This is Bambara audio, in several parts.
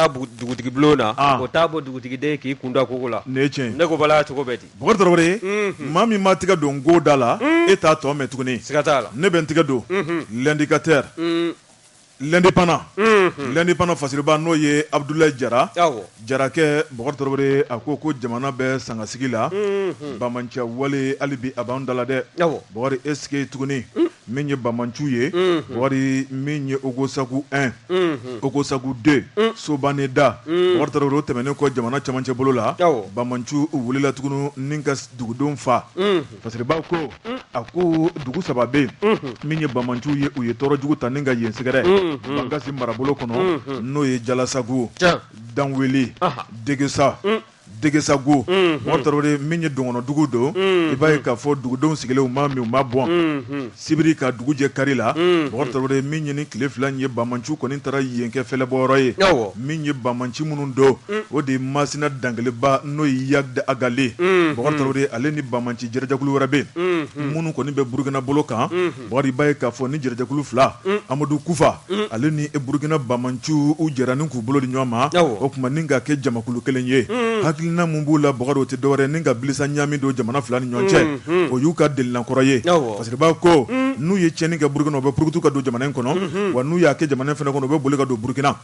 dugutigi bulon na o t'a bɔ dugutigiden k'i kun da kogo la ne ko bala cogo bɛ ten bokari tarawele ye maa min ma tɛgɛ don go da la e t'a tɔ mɛn tuguni siga t'a la ne bɛ n tɛgɛ don l'indicateur l'indépendant l'indépendant fasiriba n'o ye abudulayi jara jarakɛ bokari tarawele a ko ko jamana bɛ sangasigi la banbaanci wale hali bi a b'an dala dɛ bokari est-ce que tuguni Min ye banbaanciw ye, unhun, Bokari min ye Ogosagu 1, unhun, Ogosagu 2, un, Sobaneda, un, Bokari Tarawele, o tɛmɛnen kɔ jamana cɛmancɛ bolo la, awɔ, banbaanciw wulila tuguni ni ka dugudenw fa, unhun, fasiriba ko, un, a ko dugu saba bɛ yen, unhun, min ye banbaanciw ye, u ye tɔɔrɔ jugu ta ni ka yen sɛgɛrɛ, unhun, Bankasi marabolo kɔnɔ, unhun, n'o ye Jalasagu, tiɲɛ, Danweli, anhan, Degesa, un Degesagu bokari tarawele min ye dɔgɔnɔdugu don i b'a ye k'a fɔ dugudenw sigilen u ma min u ma bɔn sibiri ka dugu jɛ kari la bokari tarawele min ye nin tile fila ye banbaanciw kɔni taara yen kɛ fɛlɛbɔyɔrɔ ye min ye banbaanci minnu don o de ye masina dankeleba n'o ye iyad ag ali bokari tarawele ale ni banbaanci jɛrɛjɛkulu wɛrɛ bɛ yen minnu kɔni bɛ burukina bolo kan Bokari i b'a ye k'a fɔ ni jɛrɛjɛkulu fila amadu kufa ale ni e burukina banbaanciw u jɛra ni k'u bolo di ɲɔgɔn ma o tuma ni ka kɛ jamakulu kelen ye hakilina min b'u la bokari o tɛ dɔwɛrɛ ni ka bilisi ɲaami don jamana fila ni ɲɔgɔn cɛ o y'u ka delinakɔrɔ ye fasiriba ko n'u ye tiɲɛni kɛ burukina u bɛ purukutu ka don jamana in kɔnɔ wa n'u y'a kɛ jamana fana kɔnɔ u bɛ boli ka don burukina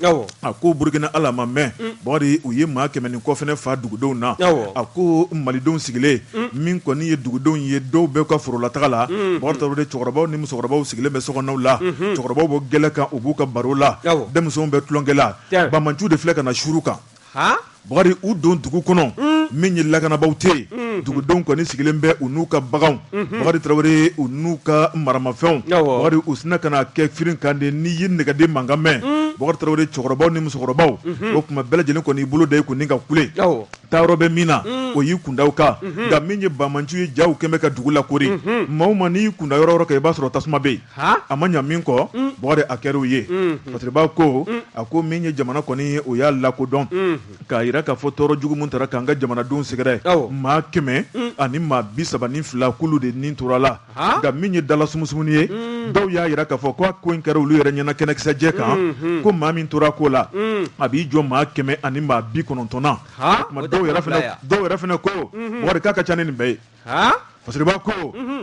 A ko Burukina hali a ma mɛn, un, Bokari u ye maa kɛmɛ ni kɔ fana faa dugudenw na, awɔ, a ko Malidenw sigilen, un, min kɔni ye dugudenw ye dɔw bɛ ka forolataga la, unhun, Bokari Tarawele cɛkɔrɔbaw ni musokɔrɔbaw sigilen bɛ sokɔnɔnaw la, unhun, cɛkɔrɔbaw bɛ gɛlɛ kan u b'u ka baro la, awɔ, denmisɛnw bɛ tulonkɛ la, tiɲɛ, banbaanciw de filɛ ka na suuru u kan, han Bokari u don dugu kɔnɔ min ye lakanabaaw tɛ yen dugudenw kɔni sigilen bɛ u n'u ka baganw bokari tarawele u n'u ka maramafɛnw bokari u sinna ka na kɛ firin kan de n'i ye nɛgɛden mankan mɛn bokari tarawele cɛkɔrɔbaw ni musokɔrɔbaw o tuma bɛɛ lajɛlen kɔni i bolo da i kun ni ka kule taayɔrɔ bɛ min na o y'i kun da o kan nka min ye banbaanciw ye jaw kɛmɛ bɛ ka dugu lakoori maa o maa n'i kun da yɔrɔ o yɔrɔ kan i b'a sɔrɔ tasuma bɛ yen a ma ɲa min kɔ mm. bokari a kɛr'o ye mm. fasiriba ko mm. a ko min ye jamana kɔni ye o y'a lakodɔn k'a yira k'a fɔ tɔɔrɔ jugu min taara k'an ka jamanadenw sɛgɛrɛ maa kɛmɛ ani maa bi saba ni fila k'olu de nin tora la nka min ye dala sumusumunni ye dɔw y'a yira k'a fɔ ko a ko in kɛra olu yɛrɛ ɲɛna kɛnɛkisɛjɛ kan mm-hmm. ko maa min tora ko la a b'i jɔ maa kɛmɛ ani maa bi kɔnɔntɔn na dɔw yɛrɛ fana ko bokari k'a ka ca ni nin bɛɛ ye Fasiriba ko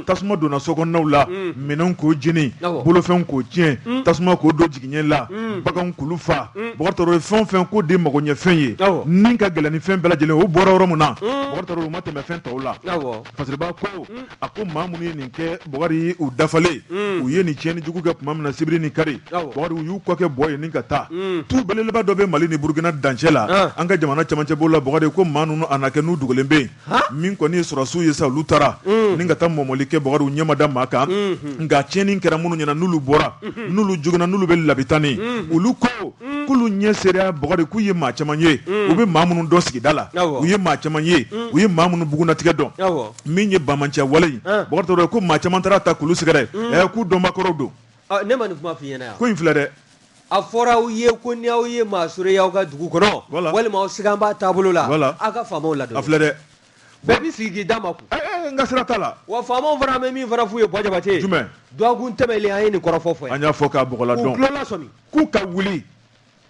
tasuma donna sokɔnɔnaw la minɛnw k'o jeni bolofɛnw k'o tiɲɛ tasuma k'o don jigiɲɛ la baganw k'olu faa Bokari fɛn o fɛn k'o de magoɲɛfɛn ye min ka gɛlɛn ni fɛn bɛɛ lajɛlen o bɔra yɔrɔ min na o ma tɛmɛ fɛn tɔw la Fasiriba ko a ko maa minnu ye nin kɛ Bokari u dafalen u ye nin tiɲɛni jugu kɛ tuma min na sibiri ni kari Bokari u y'u kɔ kɛ bɔ ye nin ka taa tu belebeleba dɔ bɛ mali ni burukina dancɛ la an ka jamana camancɛ bolo la Bokari ko maa ninnu a na kɛ n'u dogolen bɛ yen min kɔni ye sɔrɔsiw ye sa olu taara ni ka taa mɔmɔli kɛ Bokari u ɲɛ ma da maa kan nka tiɲɛni kɛra minnu ɲɛna n'olu bɔra n'olu joginna n'olu bɛ labitani olu ko k'olu ɲɛ seereya Bokari k'u ye maa caman ye u bɛ maa minnu dɔn sigida la u ye maa caman ye u ye maa minnu bugunatigɛ dɔn min ye banbaanciya wale ye ye ko maa caman taara ta k'olu sɛgɛrɛ k'u dɔnbaa kɔrɔw don ne ma nin kuma f'i ɲɛna yan ko in filɛ dɛ A fɔra aw ye ko ni aw ye maa sɔrɔ y'aw ka dugu kɔnɔ walima aw sigan b'a taabolo la aw ka faamaw ladɔn a filɛ dɛ bɛɛ b'i sigi k'i da makun n ka sira t'a la wa faamaw fana bɛ min fana f'u ye Bo Jabate jumɛn dɔgɔkun tɛmɛlen an ye nin kɔrɔfɔ fɔ an y'a fɔ k'a bla dɔn k'u ka wuli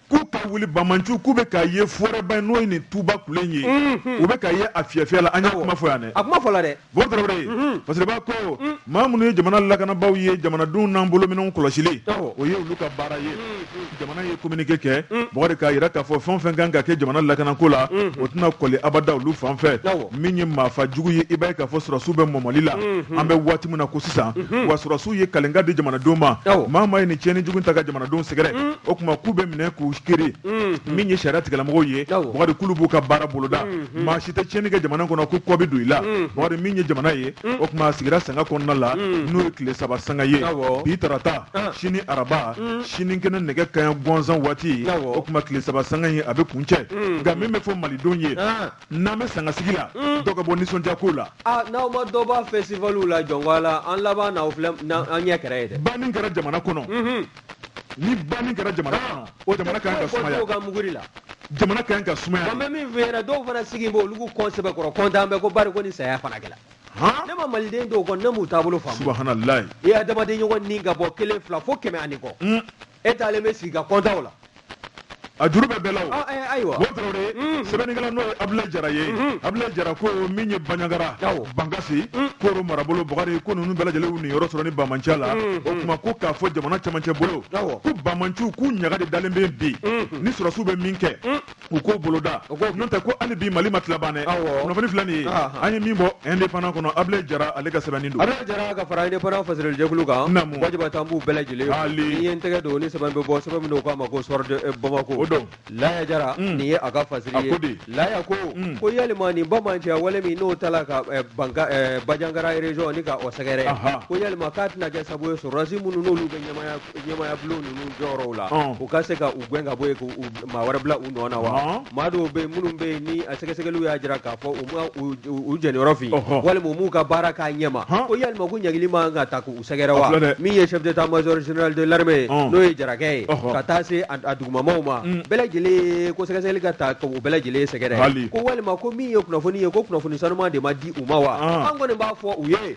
k'u ka wuli banbaanciw k'u bɛ ka ye fɔrɛba n'o ye nin tuba kelen ye u bɛ ka ye a fiyɛfiyɛ la an y'a kuma fɔ yan a kuma fɔ la dɛ Bo Tarawele, unhun, Fasiriba ko, un, maa minnu ye jamana lakanabaaw ye jamanadenw n'an bolominɛnw kɔlɔsili, awɔ, o ye olu ka baara ye, unhun, jamana ye communiqué kɛ, un, Bukari k'a yira k'a fɔ fɛn o fɛn ka kan ka kɛ jamana lakanako la, unhun, o tɛna kɔli abada olu fan fɛ, awɔ, min ye maafa jugu ye, i b'a ye k'a fɔ sɔrɔdasiw bɛ mɔmɔli la, unhun, an bɛ waati min na ko sisan, unhun, wa sɔrɔdasiw ye kalenkan di jamanadenw ma, awɔ, maa o maa ye nin tiɲɛni jugu in ta ka jamanadenw sɛgɛrɛ, un, o tuma k'u bɛ minɛ k'u kiiri, unhun, min ye sariya tigɛlamɔgɔw ye, awɔ, Bukari k'olu b'u ka baara boloda. Hmm. maa si tɛ tiɲɛni kɛ jamana kɔnɔ ko kɔ bɛ don i la hmm. Bokari min ye jamana ye hmm. o tuma a sigira sanga kɔnɔna la n'o ye tile saba sanga ye bi tarata ah. sini araba sini kɛnɛ nɛgɛ kanɲɛ gansan waati o tuma tile saba sanga ye a bɛ kuncɛ nka min bɛ fɔ malidenw ye ah. n'an bɛ sangasigi la dɔ ka bɔ nisɔndiya ko la ah, n'aw ma dɔ b'a festivaliw la jɔnko la an laban n'aw filɛ an ɲɛ kɛrɛ ye dɛ banni kɛra jamana kɔnɔ ni banni kɛra jamana kɔnɔ o jamana kan ka sumaya dɔw ka muguri la jamana kan ka sumaya an bɛ min f'i ɲɛna dɔw fana sigi b'o olu k'u kɔ sɛbɛkɔrɔ kɔntan bɛ ko bari ko ni saya fana kɛra ne ma maliden dɔw kɔni ne m'u taabolo faamu subahanallahi i adamaden ɲɔgɔn ni ka bɔ kelen fila fo kɛmɛ ani kɔ e taalen bɛ sigi ka kɔntanw la a juru bɛ bɛɛ la o ayiwa Bo tarawele sɛbɛnnikɛla n'o ye abulayi jara ye abulayi jara ko min ye baɲagara bankasi koro marabolo bakari ko ninnu bɛɛ lajɛlen y'u niyɔrɔ sɔrɔ nin banbaanciya la o tuma ko k'a fɔ jamana camancɛ bolo ko banbaanciw k'u ɲaga de dalen bɛ bi ni sɔrɔsiw bɛ min kɛ u k'o boloda n'o tɛ ko hali bi mali ma tila ban dɛ kunnafoni filɛ nin ye an ye min bɔ indépendant kɔnɔ abulayi jara ale ka sɛbɛnni don. Abdulaye Jara ka fara indépendant fasirili jɛkulu kan. Naamu. Wajiba tanu b'u bɛɛ lajɛlen. Haali. N'i ye n tɛgɛ don ni sɛbɛn bɛ bɔ sɛbɛn min don k'a ma ko Soir de eh, Bamako. O don. Laya Jara. Nin ye a ka fasiri ye. ko de. Laya ko. Ko yalima nin bamanciya wale min n'o tala ka eh, banka eh, Bajangara région ni ka o sɛgɛrɛ. Ahan. Ko yalima k'a tɛna kɛ sabu ye sɔrɔdasi minnu n'olu bɛ ɲɛmaya ɲɛmaya bulon ninnu jɔyɔrɔw la u ka se ka u gɛn ka bɔ yen ka maa wɛrɛ bila u nɔ na wa maa dɔw bɛ minnu bɛ yen ni a sɛgɛsɛgɛliw y'a jira k'a fɔ u ma u jɛniyɔrɔ fin walima u m'u ka baara k'a ɲɛma ko yalima ko ɲangili man ka ta k'u sɛgɛrɛ wa min ye chef d'état-major général de l'armée ye n'o ye jarakɛ ye ka taa se a dugumamaw ma bɛɛ lajɛlen ko sɛgɛsɛgɛli ka ta k'u bɛɛ lajɛlen sɛgɛrɛ ko walima ko min ye kunnafoni ye ko kunnafoni sanuman de ma di u ma wa an kɔni b'a fɔ u ye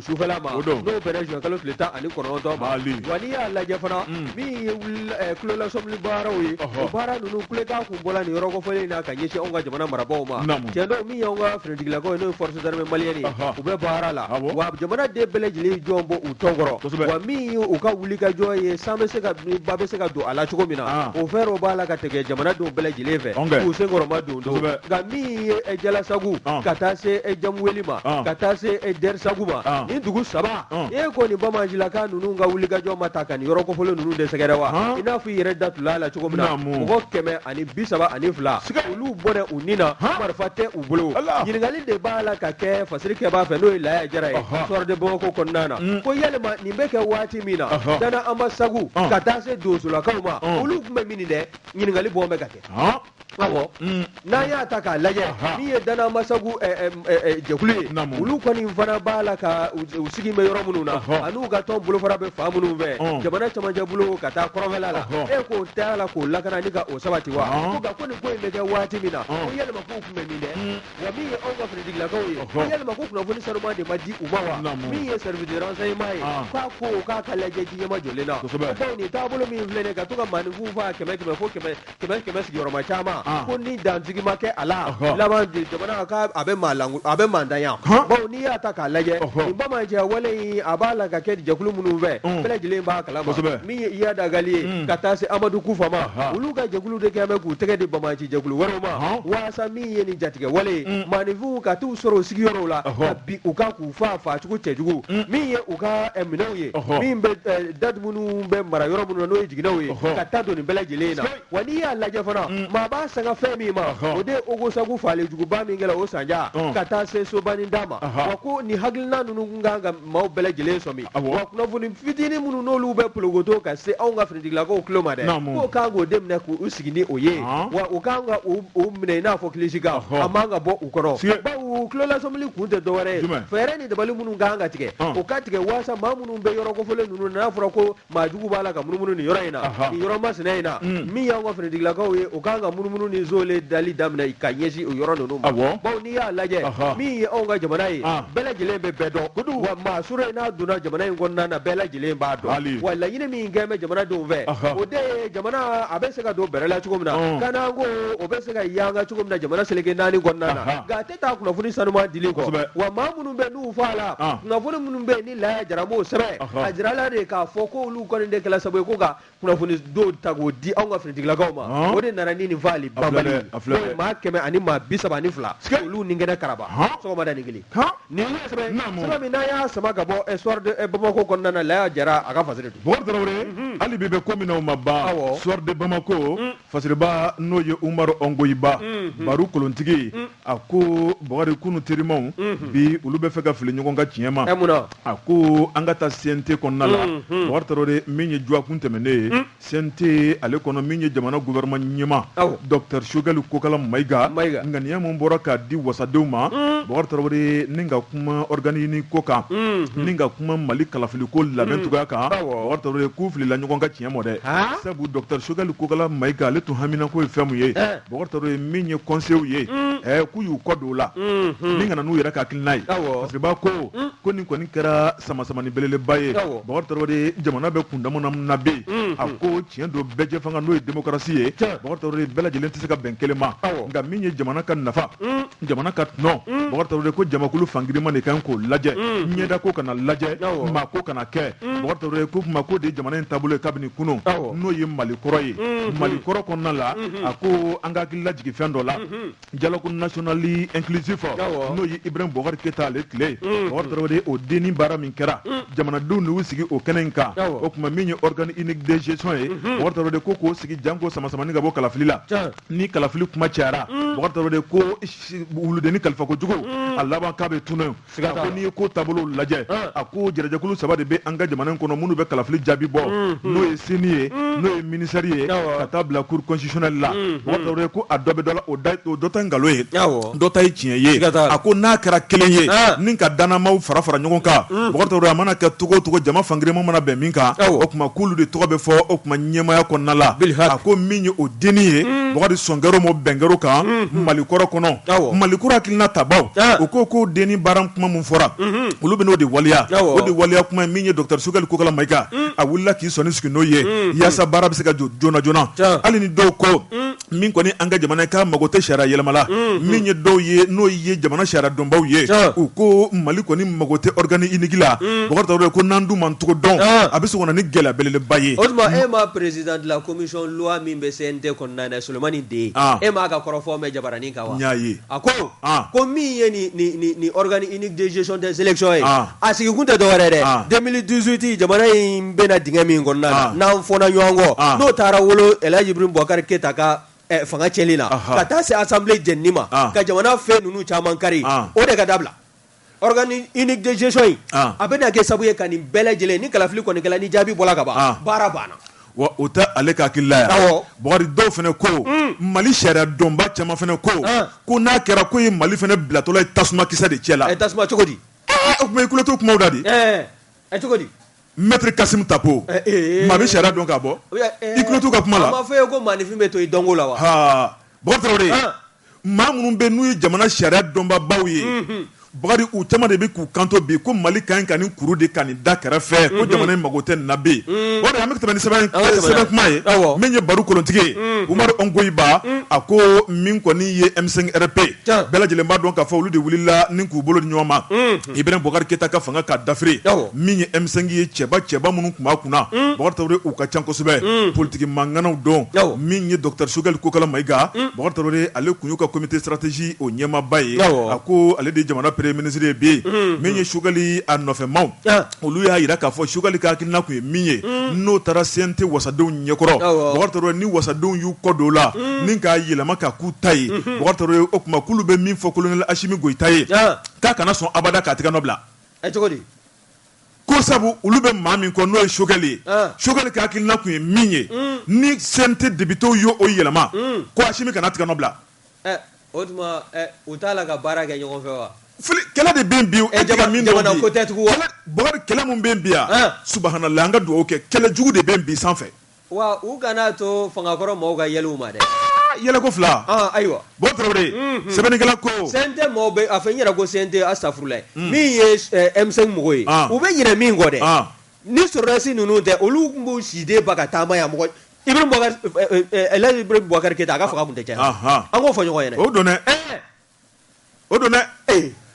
sufɛla ma o don n'o bɛnna juin kalo tile tan ani kɔnɔntɔn ma wa n'i y'a lajɛ fana min ye kulolasɔmili baaraw ye o baara ninnu kulekan kun bɔla nin yɔrɔ kofɔlen in na ka ɲɛsin anw ka jamana marabaaw ma tiɲɛ don min y'anw ka finitigilakaw ye n'o ye forces armées maliennes ye u bɛ baara la wa jamanaden bɛɛ lajɛlen jɔlen b'u tɔn kɔrɔ wa min ye u ka wulikajɔ ye san bɛ se ka ba bɛ se ka don a la cogo min na o fɛɛrɛw b'a la ka tigɛ jamanadenw bɛɛ lajɛlen fɛ k'u senkɔrɔma don nka min ye e jalasagu ka taa se e jamuweli ma ka taa se e dɛrisagu ma ni dugu saba e ko nin bamancilaka ninnu ka wulikajɔ ma ta ka nin yɔrɔ kofɔlen ninnu de sɛgɛrɛ wa i n'a fɔ i yɛrɛ datula la cogo min na mɔgɔ kɛmɛ ani bi saba ani fila olu bɔra u ni na marifa tɛ u bolo ɲininkali de b'a la ka kɛ fasirikɛbaa fɛ n'o ye laya jara ye Soir de Bamako kɔnɔna na ko yalima nin bɛ kɛ waati min na dana anbasagu ka taa se donsolakaw ma olu tun bɛ min dɛ ɲininkali bɔ bɛ ka kɛ Ɔwɔ n'an y'a ta k'a lajɛ min ye dana anbasagu jɛkulu ye olu kɔni fana b'a la ka u sigi bɛ yɔrɔ minnu na an'u ka tɔn bolofara bɛ fan minnu fɛ jamana cɛmancɛ bolo ka taa kɔrɔnfɛla la e k'o t'a la k'o lakana ni ka o sabati wa ko nin ko in bɛ kɛ waati min na ko yalima k'u tun bɛ min dɛ wa min ye anw ka finitigilakaw ye ko yalima ko kunnafoni sanuman de ma di u ma wa min ye service de renseignement ye k'a ko k'a ka lajɛ ji nɛmajɔlen na bawo nin taabolo min filɛ ka to ka maaninfin faa kɛmɛ kɛmɛ fo kɛmɛ kɛmɛ kɛmɛ sigiyɔrɔma caman ah. ko ni dansigi ma kɛ a la laban de jamana ka a bɛ maa langu a bɛ maantanya bawo n'i y'a ta k'a lajɛ nin bamanciya wale in a b'a la ka kɛ jɛkulu minnu fɛ mm. bɛɛ lajɛlen b'a kalama min ye iyad agali ye mm. ka taa se amadu kufa ma olu ka jɛkulu de kɛlen bɛ k'u tɛgɛ di bamanci jɛkulu wɛrɛw ma walasa min ye nin jatigɛwale ye mm. maaninfinw ka t'u sɔrɔ u sigiyɔrɔw la ka bin u kan k'u faa faacogo cɛjugu mm. min ye u ka eh, minɛnw ye min bɛ eh, date minnu bɛ mara yɔrɔ minnu na n'o ye jiginɛw ye ka ta don nin bɛɛ lajɛlen in na wa n'i y'a lajɛ fana mm. maa b'a sanga fɛn min ma o de ye ogosagu faalijuguba min kɛra o sanja mm. ka taa se sobanida ma wa ko nin hakilina ninnu ka kan ka maaw bɛɛ lajɛlen sɔmi wa kunnafoni fitinin minnu n'olu bɛ pologoto ka se anw ka Lakaw tulo ma dɛ k'u kan k'o de minɛ k' u sigi ni o ye wa u kan k'o minɛ i n'a fɔ kilisikan a man ka bɔ u kɔrɔ bawo tulolasɔmili kun tɛ dɔwɛrɛ ye fɛɛrɛ ni dabali minnu kan ka tigɛ u ka tigɛ walasa maa minnu bɛ yɔrɔ kɔfɔlen ninnu n'a fɔra ko maa jugu b'a la ka munumunu ni yɔrɔ in na yɔrɔ masina in na min y'anw ka finitigilakaw ye u kan ka munumunu ni soolen dali daminɛ ka ɲɛsin o yɔrɔ ninnu ma bawo n'i y'a lajɛ min ye anw ka jamana ye bɛɛ lajɛlen bɛ bɛɛ dɔn maa sura in n'a donna jamana in kɔnɔna na bɛɛ lajɛlen b'a dɔn wa laɲini min kɛ bɛ jamanadenw fɛ o de ye jamana a bɛ se ka don bɛrɛ la cogo min na kanako o bɛ se ka yanga cogo min na jamana seleke naani kɔnɔna na nka a tɛ taa kunnafoni sanuman dili kɔ wa maa minnu bɛ n'u fɔ a la kunnafoni minnu bɛ ni Laya Jara b'o sɛbɛn a jirala de k'a fɔ ko olu kɔni de kɛra sababu ye ko ka kunnafoni dɔw ta k'o di anw ka finitigilakaw ma o de nana ni nin faali banbali ye maa kɛmɛ ani maa bi saba ni fila olu ni kɛnɛ karaba sɔgɔmadanin kelen Nin ye sɛbɛn naamu sɛbɛn min n'an y'a sama ka bɔ Soir de eh, Bamako kɔnɔna na Laya Jara a ka fasiri don Bokari Tarawele mhm. hali bi bɛ ko min na o ma ban awɔ Soir de Bamako mm. fasiriba n'o ye Umaru Ongoyiba mhm. Baru kolontigi mm. a ko Bokari kunu terimaw mhm. bi olu bɛ fɛ ka fili ɲɔgɔn ka tiɲɛ ma ɛ mun na a ko an ka taa CNT kɔnɔna la Bokari Tarawele min ye juakun tɛmɛnnen ye mm. CNT ale kɔnɔ min ye jamana gouvernement ɲɛmaa docteur Sogɛli Kokala Mayiga ŋaniya min bɔra k'a di wasadenw ma Bokari Tarawele ni ka kuma organe unique ko kan ni ka kuma Mali kalafili ko labɛn cogoya kan Bokari Tarawele k'u filila ɲɔgɔn ka tiɲɛ ma dɛ sabu docteur Sogɛli Kokala Mayiga ale tun haminako ye fɛn min ye Bokari Tarawele min ye conseilw ye k'u y'u kɔ don o la ni ka na n'u yɛrɛ ka hakilina ye fasiriba ko ko nin kɔni kɛra samasamani belebeleba ye Bokari Tarawele jamana bɛ kundama min na bi, unhun, a ko tiɲɛ don bɛɛjɛfanga n'o ye démocratie ye, tiɲɛ, Bokari Tarawele bɛɛ lajɛlen tɛ se ka bɛn kelen ma, awɔ, nka min ye jamana ka nafa, un, jamana ka tɔnɔ, un, Bokari Tarawele ko jamakulu fan girinman de ka kan k'o lajɛ, un, ɲɛda ko kana lajɛ, awɔ, maa ko kana kɛ, un, Bokari Tarawele k'o tuma k'o de ye jamana in taabolo ye kabini kunun, awɔ, n'o ye Mali kɔrɔ ye, unhun, Mali kɔrɔ kɔnɔna la, unhun, a ko an ka hakili lajigin fɛn dɔ la, unhun dialogue national inclusif n'o ye Ibrahim Bubakari Keyita ale tile mm. bokari tarawele o denni baara min kɛra mm. jamanadenw de y'u sigi o kɛnɛ in kan o tuma min ye organe unique de gestion ye mm-hmm. bokari tarawele ko k'o sigi janko samasamani ka bɔ kalafili la ni kalafili kuma cayara mm. bokari tarawele ko wuludennin kalifako jugu a laban k'a bɛ tunun a ko n'i ye ko taabolo lajɛ a ko jɛrɛjɛkulu saba de bɛ an ka jamana in kɔnɔ minnu bɛ kalafili jaabi bɔ mm-hmm. n'o ye CENI ye mm-hmm. n'o ye ministère ye ka taa bila cour constitutionnelle la mm-hmm. Bokari Tarawele ko a dɔ bɛ dɔ la o dɔ ta nkalon ye dɔ ta ye tiɲɛ ye a ko n'a kɛra kelen ye ah. ni ka dannamaaw fara fara ɲɔgɔn kan mm. Bokari Tarawele a mana kɛ cogo o cogo jama fan girinman mana bɛn min kan o tuma k'olu de tɔgɔ bɛ fɔ o tuma ɲɛmaya kɔnɔna la a ko min ye o de nin ye Bokar sɔn kɛr'o ma bɛn kɛr'o kan mali kɔrɔ kɔnɔ mali kura hakilina tabaw u ko ko de ni baara kuma min fɔra olu bɛn'o de waleya o de waleya kuma ye min ye docteur Choguel Kokala Maïga a wulila k'i sɔnni sigi n'o ye yaasa baara bɛ se ka jɔ joona joona hali ni dɔw ko min kɔni an ka jamana k'a mago tɛ sariya yɛlɛma la min ye dɔw ye n'o ye jamana sariya dɔnbaw ye u ko mali kɔni mago tɛ organe unique la Bokar Tarawele ko n'an dun m'an cogo dɔn a bɛ sɔn ka na ni gɛlɛya belebeleba ye o tuma e ma président de la commission loi min bɛ CNT kɔnɔna na Solomani De e m'a ka kɔrɔfɔ mɛn jabaranin kan wa y'a ye a ko ko min ye i ni dezsi tɛ selilic ye a sigi kun tɛ dɔwɛrɛ dɛ den dusute jamana in bɛna d min kɔnɔna n'an fɔ ɲɔgɔn kɔ n'o taara wolo yiri bɔkari keyita ka fanga cɛli la ka taa se asan jeni ma ka jamana fɛn ninnu caman kari o de ka dabila Organe unique de gestion in a bɛna kɛ sabu ye ka nin bɛɛ lajɛlen ni kalafili kɔni kɛla ni jaabi bɔra ka ban baara banna wa o tɛ ale ka hakilila ye Bokar dɔw fana ko mali sariya dɔnba caman fana ko ko n'a kɛra ko ye mali fana bilatɔla ye tasuma kisɛ de cɛ la a tasuma cogo di o tuma i kulo t'u kuma da di a cogo di maître Kassoum Tapo maa bɛ sariya dɔn ka bɔ i kulo t'u ka kuma fɔ ye ko maanifin bɛ to i dɔnko la wa maa minnu bɛ n'u ye jamana sariya dɔnbabaw ye Bokar u caman de bɛ k'u kanto bi ko mali ka ɲi ka nin kuru de ka nin da kɛrɛfɛ ko jamana in mako tɛ nin na bi o de an bɛ tɛmɛ ni sɛbɛn kuma ye min ye barokolontigi ye Umaru Ongoyiba a ko min kɔni ye M5 RFP bɛɛ lajɛlen b'a dɔn k'a fɔ olu de wulila ni k'u bolo di ɲɔgɔn ma i bɛna bukari keta ka fanga ka dafiri min ye emisɛn ye cɛba cɛba minnu tun' kunna bɔn uu ka ca kosɛbɛ politigi mankananaw dɔn min ye dɔta sokɛkali kokala mayika bɔn ale tun y'u ka cote saratisi o ɲɛmaba ye a ko ale de jamana pere minisirire bɛ yen min ye sokɛkali a nɔfɛmaw olu y'a jira k'a fɔ sukali kakiina tun ye min ye n'o taara sen tɛ wasadenw ɲɛkɔrɔ ni wasadenw y'u kɔ don la min k'a yɛlɛma ka ku ta ye o tumakulu bɛ min fɔ kolon asimi gyita ye k'a kana sɔn abada k'a tigɛ nɔ bila ɛ cogo di ko sabu olu bɛ maa min kɔ n'o ye Choguel ye ah. Choguel ka hakilina tun ye min ye mm. ni CNT députéw y'o yɛlɛma mm. ko Assimi kana tigɛ nɔ bila eh, o tuma eh, u t'a la ka baara kɛ ɲɔgɔn fɛ wa kɛlɛ de bɛ bi e tɛ ka min dɔn bi kɛlɛ min bɛ bi yan ah. subahanalayi an ka dugawu kɛ kɛlɛ jugu de bɛ bi sanfɛ Wa u kana to fangakɔrɔ mɔgɔw ka yɛlɛ u ma dɛ. Aa yɛlɛ ko fila. Ɔn ayiwa. Bokar Tarawele. Unhun. Sɛbɛnnikɛla ko. CNT mɔgɔw bɛ, a fɔ n yɛrɛ ko CNT astafurulayi. Un. Min ye M5 mɔgɔw ye. Ɔn. U bɛ ɲinɛ min kɔ dɛ. Ɔn. Ni sɔrɔdasi ninnu tɛ, olu tun b'u si den ba ka taama yan. Mɔgɔ, Ibrahim Boubacar, ɛɛ, Elhaji Ibrahim Boubacar Keita a ka fanga tun tɛ cɛ yan. Ɔnhɔn. An k'o fɔ ɲɔgɔn ye dɛ. O don dɛ. Ɛɛ! o don dɛ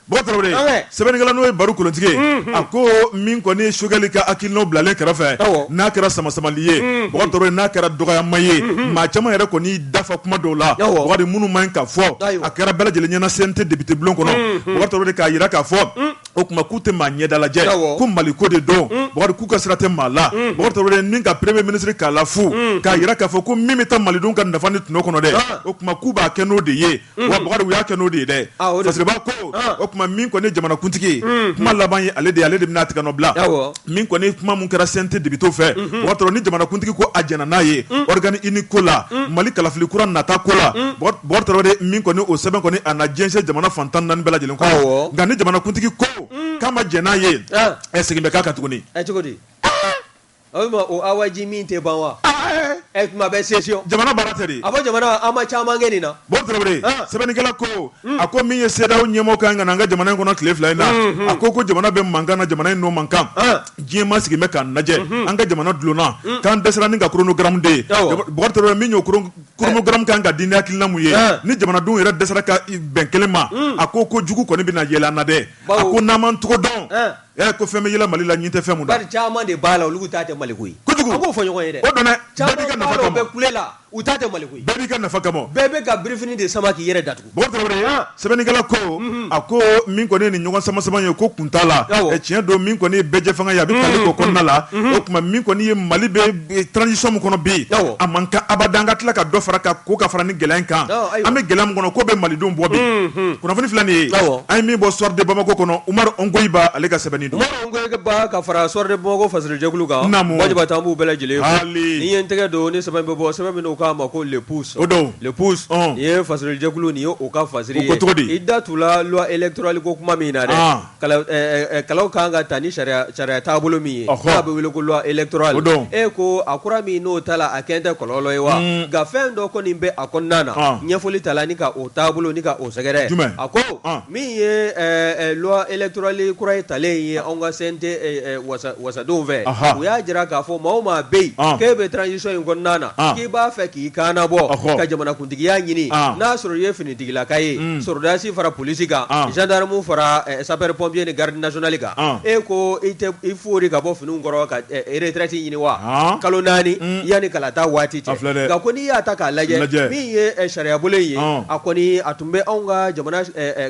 bɔkari tarawele sɛbɛnnikɛla n'o ye baru kolontigi a ko min kɔni ye sogɛli ka hakilinaw bilalen kɛrɛfɛ n'a kɛra sama samali ye n'a kɛra dɔgɔyama ye maa caman yɛrɛ kɔni dafa kuma dɔw la bɔkari minnu man ɲi ka fɔ a kɛra bɛɛ lajɛlen ɲɛna CNT depite bulon kɔnɔ k'a jira k'a fɔ o tuma k'u tɛ maa ɲɛdalajɛ ko mali ko de don k'u ka sira tɛ maa la ka peremiye minisiri k'a la fo k'a jira k'a fɔ ko min bɛ taa malidenw ka nafa ni tɔnɔ kɔnɔ dɛ o k'u b'a kɛ n'o de ye wa bakari u y'a kɛ n'o de ye dɛ Ah, o de- parce que b'a ko Ah. o tuma min kɔni ye jamanakuntigi ye kuma laban ye ale de ye ale de bɛna tigɛ nɔ bila Awɔ. min kɔni kuma mun kɛra CNT depite fɛ o y'a sɔrɔ ni jamanakuntigi ko a jɛnna n'a ye organe unique ko la mali kalafili kura nata ko la bɔkari tarawele min kɔni o sɛbɛn kɔni a na jɛnsɛn jamana fantan naani bɛɛ lajɛlen kɔnɔ Awɔ. nka ni jamanakuntigi ko k'a ma jɛn n'a ye Ah. ɛ segin bɛ k'a kan tuguni Ɛ cogo di O tuma o awaji min tɛ ban wa? Aa ee! Ɛ tuma bɛɛ session Jamana baara tɛ de? A fɔ jamana an ma caman kɛ nin na. Bɔkari Tarawele, an, sɛbɛnnikɛla ko, un, a ko min ye CEDEAO ɲɛmɔgɔ ka kan ka na an ka jamana in kɔnɔ tile fila in na, unhun, a ko ko jamana bɛ mankan na, jamana in n'o mankan, an, diɲɛ maa sigilen bɛ k'an lajɛ, unhun, an ka jamana dulonna, un, k'an dɛsɛra ni ka chronogramme de ye, awɔ, Bukari Tarawele min y'o chronogramme ka kan ka di ni hakilina min ye, an, ni jamanadenw yɛrɛ dɛsɛra ka bɛn kelen ma, un, a ko ko jugu kɔni bɛna yɛlɛ an na dɛ, bawo, a ko n'an m'an cogo dɔn, an Ɛ ko fɛn bɛ yɛlɛ Mali la ɲin tɛ fɛn min na. Bari caman de b'a la olu ko ta tɛ Maliko ye. Kojugu! An k'o fɔ ɲɔgɔn ye dɛ. O don dɛ! Bɛɛ b'i ka nafa kama. Caman b'a la u bɛ kule la, u ta tɛ Maliko ye. Bɛɛ b'i ka nafa kama. Bɛɛ bɛ ka birifini de sama k'i yɛrɛ datugu. Bɔkari Tarawele, an, sɛbɛnnikɛla ko, unhun, a ko min kɔni ye nin ɲɔgɔn sama-sama ye ko kun t'a la, awɔ, tiɲɛ don min kɔni ye bɛɛjɛfanga ye a bɛ tali k'o kɔnɔna la, unhun, o tuma min kɔni ye Mali bɛ transition min kɔnɔ bi a man kan abada an ka tila ka dɔ fara ka ko ka fara ni gɛlɛya in kan an bɛ gɛlɛya min kɔnɔ ko bɛ malidenw bɔ bi kunnafoni filɛ nin ye an ye min bɔ Soir de bamakɔ kɔnɔ umaru ongoyiba ale ka sɛbɛnni don ka fara Soir de bamakɔ fasojɛkulu kan an b'u bɛɛ lajɛlen fo ni ye n tɛgɛ don ni sɛbɛn bɛ bɔ sɛbɛn min k'a ma ko Le Pouce o don Le Pouce ye fasojɛkulu nin ye ka fa cogo di i da t' loi électorale ko kuma min na dɛ kalaw ka kan ka ta ni sariya taabolo min ye n'a bɛ wele ko loi électorale e ko a kura min n'o tala a kɛ tɛ kɔlɔlɔ ye wa nka fɛn dɔ kɔni bɛ a kɔnɔna na ɲɛfɔli ta la ni ka o taabolo ni ka o sɛgɛrɛ a ko min ye loi électorale kura ye talen ye anw ka CNT wasadenw fɛ u y'a jira k'a fɔ maa o maa bɛ yen k'e bɛ transition in kɔnɔna na k'i b'a fɛ k'i kan bɔ ka jamanakuntigiya ɲini n'a sɔrɔ i ye fini tigilaka ye sɔrɔdasi fara polisi kan gendarme fara sapeur pompier ni garde nationale kan e ko e i foori ka bɔ fini kɔrɔ ka retraite ɲini wa kalo naani yanni kalata waati cɛ nka ko n'i y'a ta k'a lajɛ min ye sariya bolo ye a kɔni a tun bɛ anw ka jamana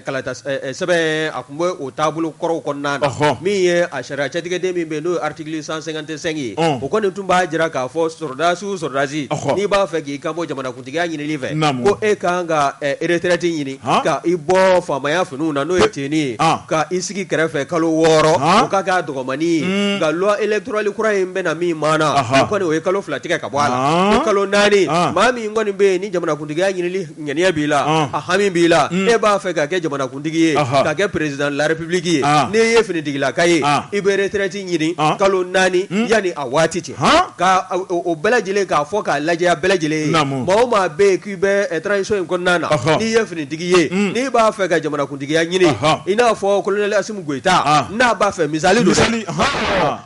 kalata sɛbɛn a tun bɛ o taabolo kɔrɔw kɔnɔna na min ye a sariya cɛtigɛden min bɛ yen n'o ye article cent cinquante-cinq ye o kɔni tun b'a jira k'a fɔ sɔrɔdasiw sɔrɔdasi n'i b'a fɛ k'i kan bɔ jamana tigiya ɲinili fɛ ko e ka kan ka retraite ɲini ka i bɔ faamaya finiw na n'o ye tenue ye ka i sigi kɛrɛfɛ kalo 6 o ka k'a dɔgɔmanni ye nka loi electorale kura in bɛna min maana o kɔni o ye kalo 2 tigɛ ka bɔ a la ko kalo 4 maa min kɔni bɛ yen ni jamanakuntigiya ɲinili ŋaniya b'i la a hami b'i la e b'a fɛ ka kɛ jamanakuntigi ye ka kɛ président de la république ye n'i ye finitigilaka ye i bɛ retraite ɲini kalo 4 yani a waati cɛ. bɛɛ lajɛlen k'a fɔ k'a lajɛya bɛɛ lajɛlen maa o maa bɛ yen k'i bɛ transition in kɔnɔna na n'i ye finitigi ye n'i b'a fɛ ka jamanakuntigiya ɲini i n'a fɔ colonel Assimi Goïta n'a b'a fɛ misali don n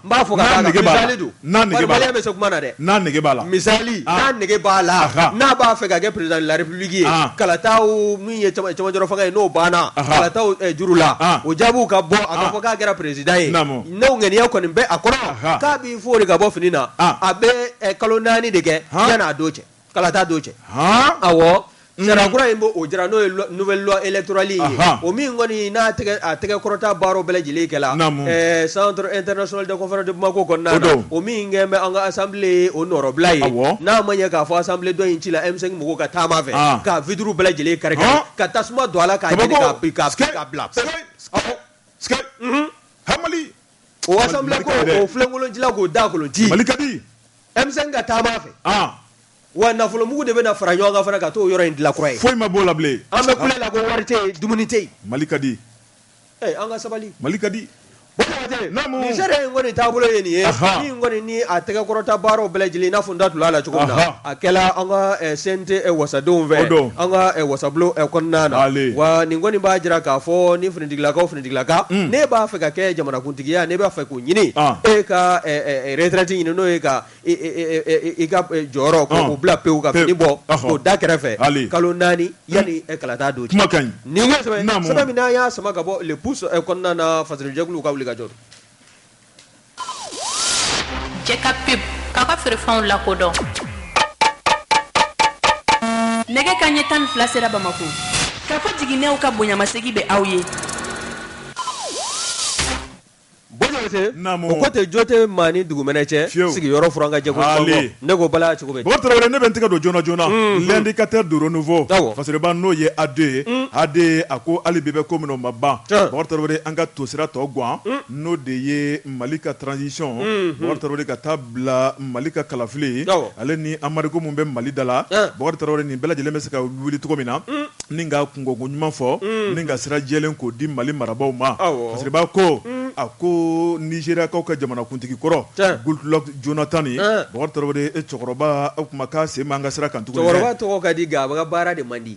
b'a fɔ ko misali don Malien bɛ se kuma na dɛ n'a nege b'a la misali n'a nege b'a la n'a b'a fɛ ka kɛ président de la république ye kalata min ye cɛmancɛrɔ fanga ye n'o banna kalata juru la o jaabiw ka bɔ a ka fɔ k'a kɛra président ye n'o ŋaniya kɔni bɛ a kɔrɔ i fori ka bɔ fini na ah. a bɛ eh, kalo naani de kɛ yanni a don cɛ kalata don cɛ awɔ mm. sariya kura in b'o o jira n'o ye nouvelle loi électorale ye o min kɔni n'a tɛgɛ a tɛgɛ kɔrɔta baaraw bɛɛ lajɛlen kɛla eh, centre international de conférence de Bamako kɔnɔna na o min kɛn bɛ an ka assemblée o nɔrɔbila ye n'a ma ɲɛ k'a fɔ assemblée dɔ in cila M5 mɔgɔw ka taama fɛ ah. ka vitre bɛɛ lajɛlen kari ka tasuma don a la k'a jeni k'a bila. o assemblée ko Mali ka di dɛ. o filenkolon cila k'o daakolon ci Mali ka di M5 ka taama fɛ ah wa nafolomugu de bɛna fara ɲɔgɔn kan fana ka t'o yɔrɔ in dilan kura ye foyi ma b'o la bilen an bɛ kule la ko wari tɛ yen dumuni tɛ yen Mali ka di Eh, an ka sabali Mali ka di Bɔkɔtɛ, Naamu. nin sariya in kɔni taabolo ye nin ye Aha. min kɔni ni a tɛgɛkɔrɔta baaraw bɛɛ lajɛlen i n'a fɔ n da tun b'a la cogo min na Aha. a kɛla an ka eh, CNT eh, wasadenw O fɛ don. an ka eh, wasabulon eh, kɔnɔna na Ale. wa nin kɔni b'a jira k'a fɔ ni finitigilakaw fini Ka ne b'a fɛ ka kɛ jamanakuntigiya ne b'a fɛ k'o ɲini e ka retraite ɲini n'o ye ka i ka jɔyɔrɔ k'o bila pewu ka fini bɔ k'o da kɛrɛfɛ kalo naani yani kalata don cɛ nin ko sɛbɛn min n'an y'a sama ka bɔ Le Pouce kɔnɔna na fasodenjɛkulu ka wuli ka jɔ Jɛka pub k'aw ka feerefɛnw lakodɔn nɛgɛ kanɲɛ tan ni fila sera Bamako ka fɔ jiginnɛw ka bonyamasegin bɛ aw ye José Naamu o ko tɛ jo tɛ maa ni dugumɛnɛ cɛ sigiyɔrɔ furan ka jɛ ko ale ne ko bala cogo bɛ Bɔkari Tarawele ne bɛ n tɛgɛ don joona joona l'indicateur du renouveau Faseriba n'o ye AD ye AD a ko hali bi bɛ ko min o ma ban Bɔkari Tarawele an ka tosira tɔ gan. n'o de ye mali ka transition Bɔkari ka taa bila mali ka kalafili ale ni embargo min bɛ mali da la Bɔkari nin bɛɛ lajɛlen bɛ se ka wuli cogo min na ni ka kunko ɲuman fɔ ni ka sira jɛlen k'o di mali marabaaw ma sabu ko a ko Nigeriakaw ka jamanakuntigi kɔrɔ Goodluck Jonathan Bɔkari cɛkɔrɔba o tuma k'a sen b'an ka sira kan tuguni cɛkɔrɔba tɔgɔ ka di a baara de man di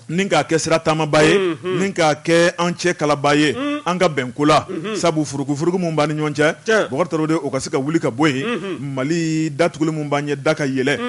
ni k'a kɛ sira taamaba ye ni k'a kɛ an cɛ kalaba ye an ka bɛn ko la sabu furukufuruku min b'an ni ɲɔgɔn cɛ Bɔkari o ka se ka wuli ka bɔ yen mali datuguli min b'an ɲɛ da ka yɛlɛ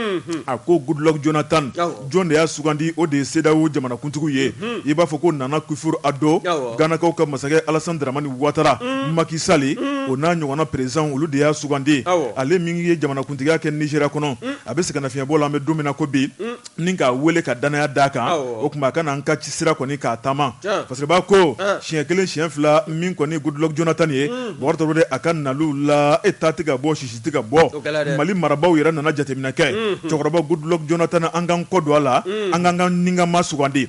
a ko Goodluck Jonathan jɔn de y'a sugandi o de ye CEDEAO jamanakuntigiw ye i b'a fɔ ko Nana Akufo-Addo Ganakaw ka masakɛ Alassane Dramane Ouattara Macky Sall o n'a ɲɔgɔnna président olu de y'a sugandi ale min ye jamanakuntigiya kɛ Nigeria kɔnɔ a bɛ sɛgɛnnafiɲɛbɔ la an bɛ don min na ko bi ni k'a weele ka danaya d'a kan o tuma a ka na an ka sira kɔni k'a taama parce que b'a ko siɲɛ kelen siɲɛ fila min kɔni Goodluck Jonathan ye Bɔkari a ka naliw la ta tɛ ka bɔ sisi tɛ ka bɔ mali marabaaw yɛrɛ nana jateminɛ kɛ cɛkɔrɔba Goodluck Jonathan an k'an kɔ don a la an k'an ka nikanmaa sugandi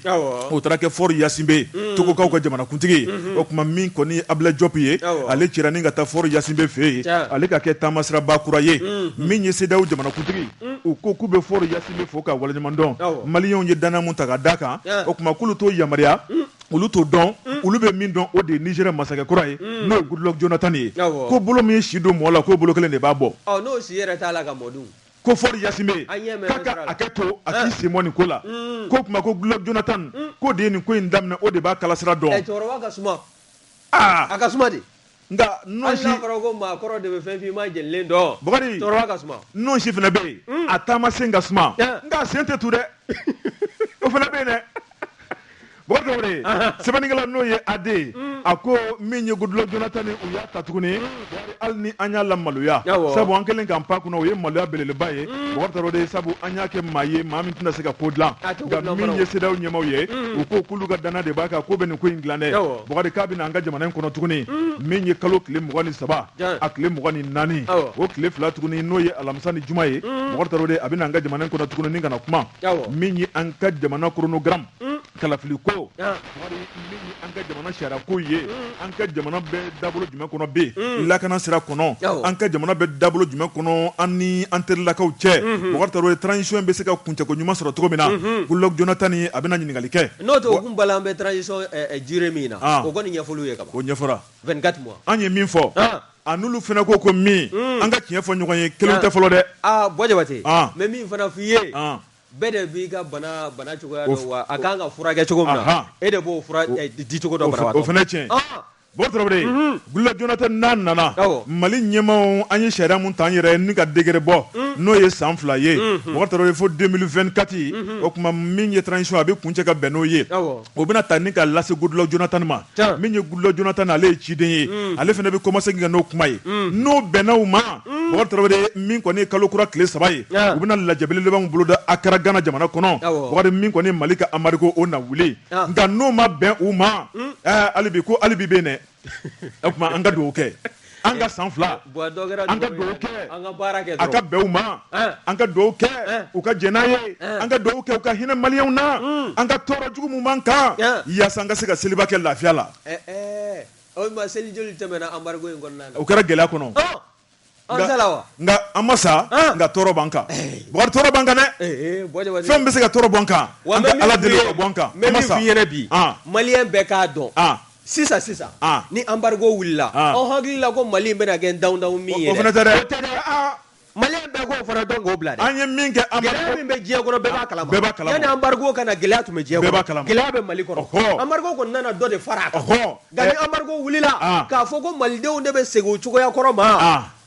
o taara kɛ Faure Gnassingbé togokaw ka jamanakuntigi o tuma min kɔni Ablaye Diop ye ale cira ni ka taa Faure Gnassingbé fɛ yen ale ka kɛ taama siraba kura ye min ye CEDEAO jamanakuntigi Mm. u ko k'u bɛ Faure Gnassingbé fo k'a waleɲuman dɔn maliyɛnw ye danaya min ta ka d'a kan o tuma k'olu t'o yamaruya mm. olu t'o dɔn mm. olu bɛ min dɔn o de ye Nigeria masakɛ kura ye n'o ye Goodluck Jonathan ye ko bolo min ye si don mɔɔ la k'o bolo kelen de b'a bɔ n'o si yɛrɛ t'a la ka mɔ dun ko Faure Gnassingbé k'a ka hakɛ to a k'i sen bɔ nin ko la k'o tuma ko Goodluck Jonathan k'o de ye nin ko in daminɛ o de b'a kalasira dɔn aa a ka suma de nka hali n'a nɔnsi fɔra ko maakɔrɔ de bɛ fɛn finman jɛlen dɔn Bakari. cɛkɔrɔba ka suma nɔnsi fana bɛ yen Mm. a taama sen ka suma Ah. nka a sen tɛ tu dɛ o fana bɛ yen dɛ Bakari Traore sɛbɛnnikɛla n'o ye Ade a ko min ye Goodluck Jonathan ye u y'a ta tuguni hali ni an y'a lamaloya sabu an kɛlen k'an pan kunna o ye maloya belebeleba ye mm. Bɔkari Traore sabu an y'a kɛ maa ye maa min tɛna se ka ko dilan nka min ye CEDEAO ɲɛmaaw ye mm. u ko k'olu ka danaya de b'a kan k'o bɛ nin ko in dilan dɛ Bɔkari k'a bɛ na an ka jamana in kɔnɔ tuguni mm. min ye kalo tile mugan ni saba a tile mugan ni naani o tile fila tuguni n'o ye alamisa ni juma ye Bɔkari Traore a bɛ na an ka jamana in kɔnɔ tuguni ni ka na kuma min ye an ka jamana chronogramme kalafili ko ah. Bɔkari min ye an ka jamana sariya ko ye mm. an ka jamana bɛ dabolo jumɛn kɔnɔ bi mm. lakana sira kɔnɔ an ka jamana bɛ dabolo jumɛn kɔnɔ an ni an terilakaw cɛ mm-hmm. Bɔkari Traore transition bɛ se ka kuncɛko ɲuman sɔrɔ cogo min na mm-hmm. Goodluck Jonathan a bɛna ɲininkali kɛ n'o tɛ o kunba la an bɛ transition eh, eh, durée min na ah. o kɔni ɲɛfɔliw ye ka ban o ɲɛfɔra 24 mois an ye min fɔ ah. a n'olu fana ko ko min mm. an ka tiɲɛ fɔ ɲɔgɔn ye kelen tɛ fɔlɔ dɛ bɔ jabate mɛ min fana f'i ye Bɛɛ de b'i ka bana bana cogoya dɔn wa a kan ka furakɛ cogo min na, anhan, e de b'o fura di cogo dɔn banabagatɔ ma, o fana ye tiɲɛ ye, ɔn, Bɔkari Tarawele, unhun, Goodluck Jonathan n'a nana, awɔ, Mali ɲɛmaaw an ye sariya min ta an yɛrɛ ye ni ka décret bɔ, un, n'o ye san fila ye, unhun, Bɔkari Tarawele fo 2024, unhun, o tuma min ye transition ye a bɛ kuncɛ ka bɛn n'o ye, awɔ, o bɛna ta ni ka lase Goodluck Jonathan ma. min ye goodluck jonathan ale ye ciden ye ale fana bɛ kɔmase ka taga n'o kuma ye n'o bɛnna u ma bɔkari tarawele min kɔni kalo kura tile saba ye u bɛna lajɛ belebeleba min boloda accra gana jamana kɔnɔ bɔkari min kɔni mali ka embargo o na wuli nka n'o ma bɛn u ma hali bi ko hali bi bɛ yen o tuma an ka dugawu kɛ an ka san fila an ka dugawu kɛ a ka bɛn u ma an ka dugawu kɛ u ka jɛn n'a ye an ka dugawu kɛ u ka hinɛ maliyɛnw na hmm. an ka tɔɔrɔ jugu min b'an kan yaasa an ka se ka seliba kɛ lafiya la eh, eh. seli joli tɛmɛna embargo in kɔnɔna na o kɛra gɛlɛya kɔnɔ nka an ma sa nka tɔɔrɔ b'an kan eh. bɔkari tɔɔrɔ b'an kan dɛ fɛn bɛ se ka tɔɔrɔ b'an kan an ka ala deli ka b'an kan an ma sa bi maliyɛn bɛɛ k'a dɔn Sisan sisan ni embargo wulila aw hakili la ko mali in bɛna kɛ daamu min ye maliyɛn bɛɛ k'o fana dɔn k'o bila an ye min kɛ gɛlɛya min bɛ diɲɛ kɔnɔ bɛɛ b'a kala ma yanni embargo ka na gɛlɛya tun bɛ diɲɛ kɔnɔ gɛlɛya bɛ mali kɔnɔ embargo kɔni nana dɔ de fara a kan nka ni embargo wulila k'a fɔ ko malidenw de bɛ segin u cogoya kɔrɔ ma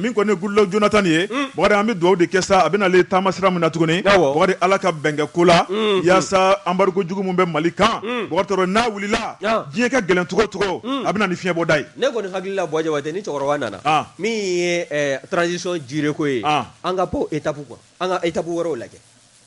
min kɔni gla jna tan nin ye an bɛ dugawu de kɛ sa a bɛ taama sira min na tuguni ala ka bɛnkɛ ko la walasasa anbari ko jugu bɛ mali kan n'a wulila diɲɛ ka gɛlɛncogocogo a bɛ ni fiɲɛɲɛbɔda ye ne kɔni hakili la ni cɛkɔrɔba nana min ye tsisɔn jire ko ye an ka e ta kuwa an ka e ta wɛrɛ lajɛ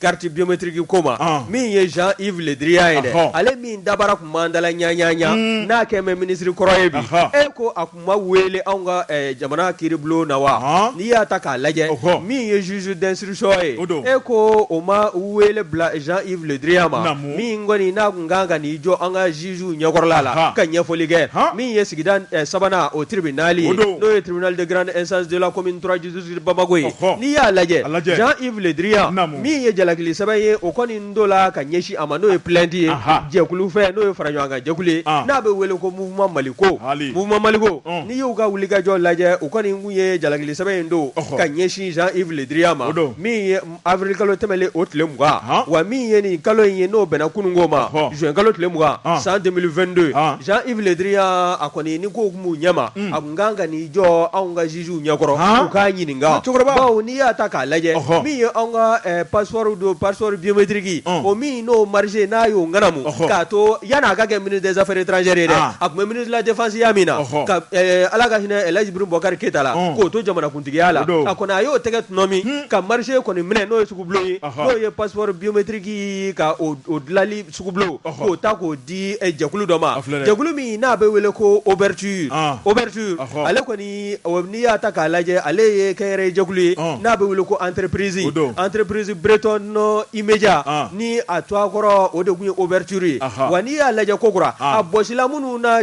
Carte biométrique ko ma, ɔn, min ye Jean Yves le Drian ye dɛ, ɔhɔ, ale min dabara tun b'an dala ɲaɲaɲa, un, n'a kɛlen bɛ ministre kɔrɔ ye bi, ɔhɔ, e ko a tun ma wele anw ka ɛ jamana kiiribulon na wa, ɔnhɔn, n'i y'a ta k'a lajɛ, ɔhɔ, min ye juge d'instruction ye, o don, e ko o ma wele bila Jean Yves le Drian ma, naamu, min kɔni n'a tun ka kan ka n'i jɔ an ka juges ɲɛkɔrɔla la, anhan, ka ɲɛfɔli kɛ, han, min ye sigida ɛ sabanan o tribunal ye, o don, n'o ye tribunal de grande instance de la commune 3 bamakɔ ye n'i y'a lajɛ jean yves le drian min ye jalakili sɛbɛn ye o kɔni donna ka ɲɛsin a ma n'o ye plainte ye jɛkulu fɛ n'o ye faraɲɔgɔnkan jɛkulu ye n'a bɛ wele ko mouvement maliko mouvement maliko n'i y'u ka wulikajɔ lajɛ u kɔni tun ye jalakili sɛbɛn in don ka ɲɛsin jean yves le drian ma Avril kalo tɛmɛnen o tile 20 ɔnhɔn wa min ye nin kalo in ye n'o bɛnna kununko ma ɔhɔ juin kalo tile 20 ɔn san 2022 ɔn Jean Yves le Drian a kɔni ni kow tun b'u ɲɛma un a tun ka kan ka n'i jɔ anw ka juges u ɲɛkɔrɔ haan u k'a ɲininka ŋa cɛkɔrɔba bawo n'i y'a ta k'a lajɛ ɔhɔ min ye anw ka ɛɛ passeport don passeport biométrique ɔn o min n'o marché n'a y'o ŋanamu ɔhɔ k'a to yan'a ka kɛ ministre des affaires étrangères ye dɛ aa a tun bɛ ministre de la défense ya min na ɔhɔ ka ɛɛ Ala ka hinɛ Elhadji Ibrahim Boubacar Keita la ɔn k'o to jamanakunt Tigiya la a kɔni a y'o tɛgɛ tuma min ka marché kɔni minɛ n'o ye sugu bulon ye n'o ye passeport biométrique ka o dilanli sugu bulon k'o ta k'o di jɛkulu dɔ ma jɛkulu min n'a bɛ wele ko Oberthur Oberthur ale kɔni n'i y'a ta k'a lajɛ ale ye kɛnyɛrɛye jɛkulu ye n'a bɛ wele ko entreprise don entreprise bretonne Imedia ni a tɔgɔkɔrɔ o de tun ye Oberthur ye wa n'i y'a lajɛ kokura a bɔsila minnu na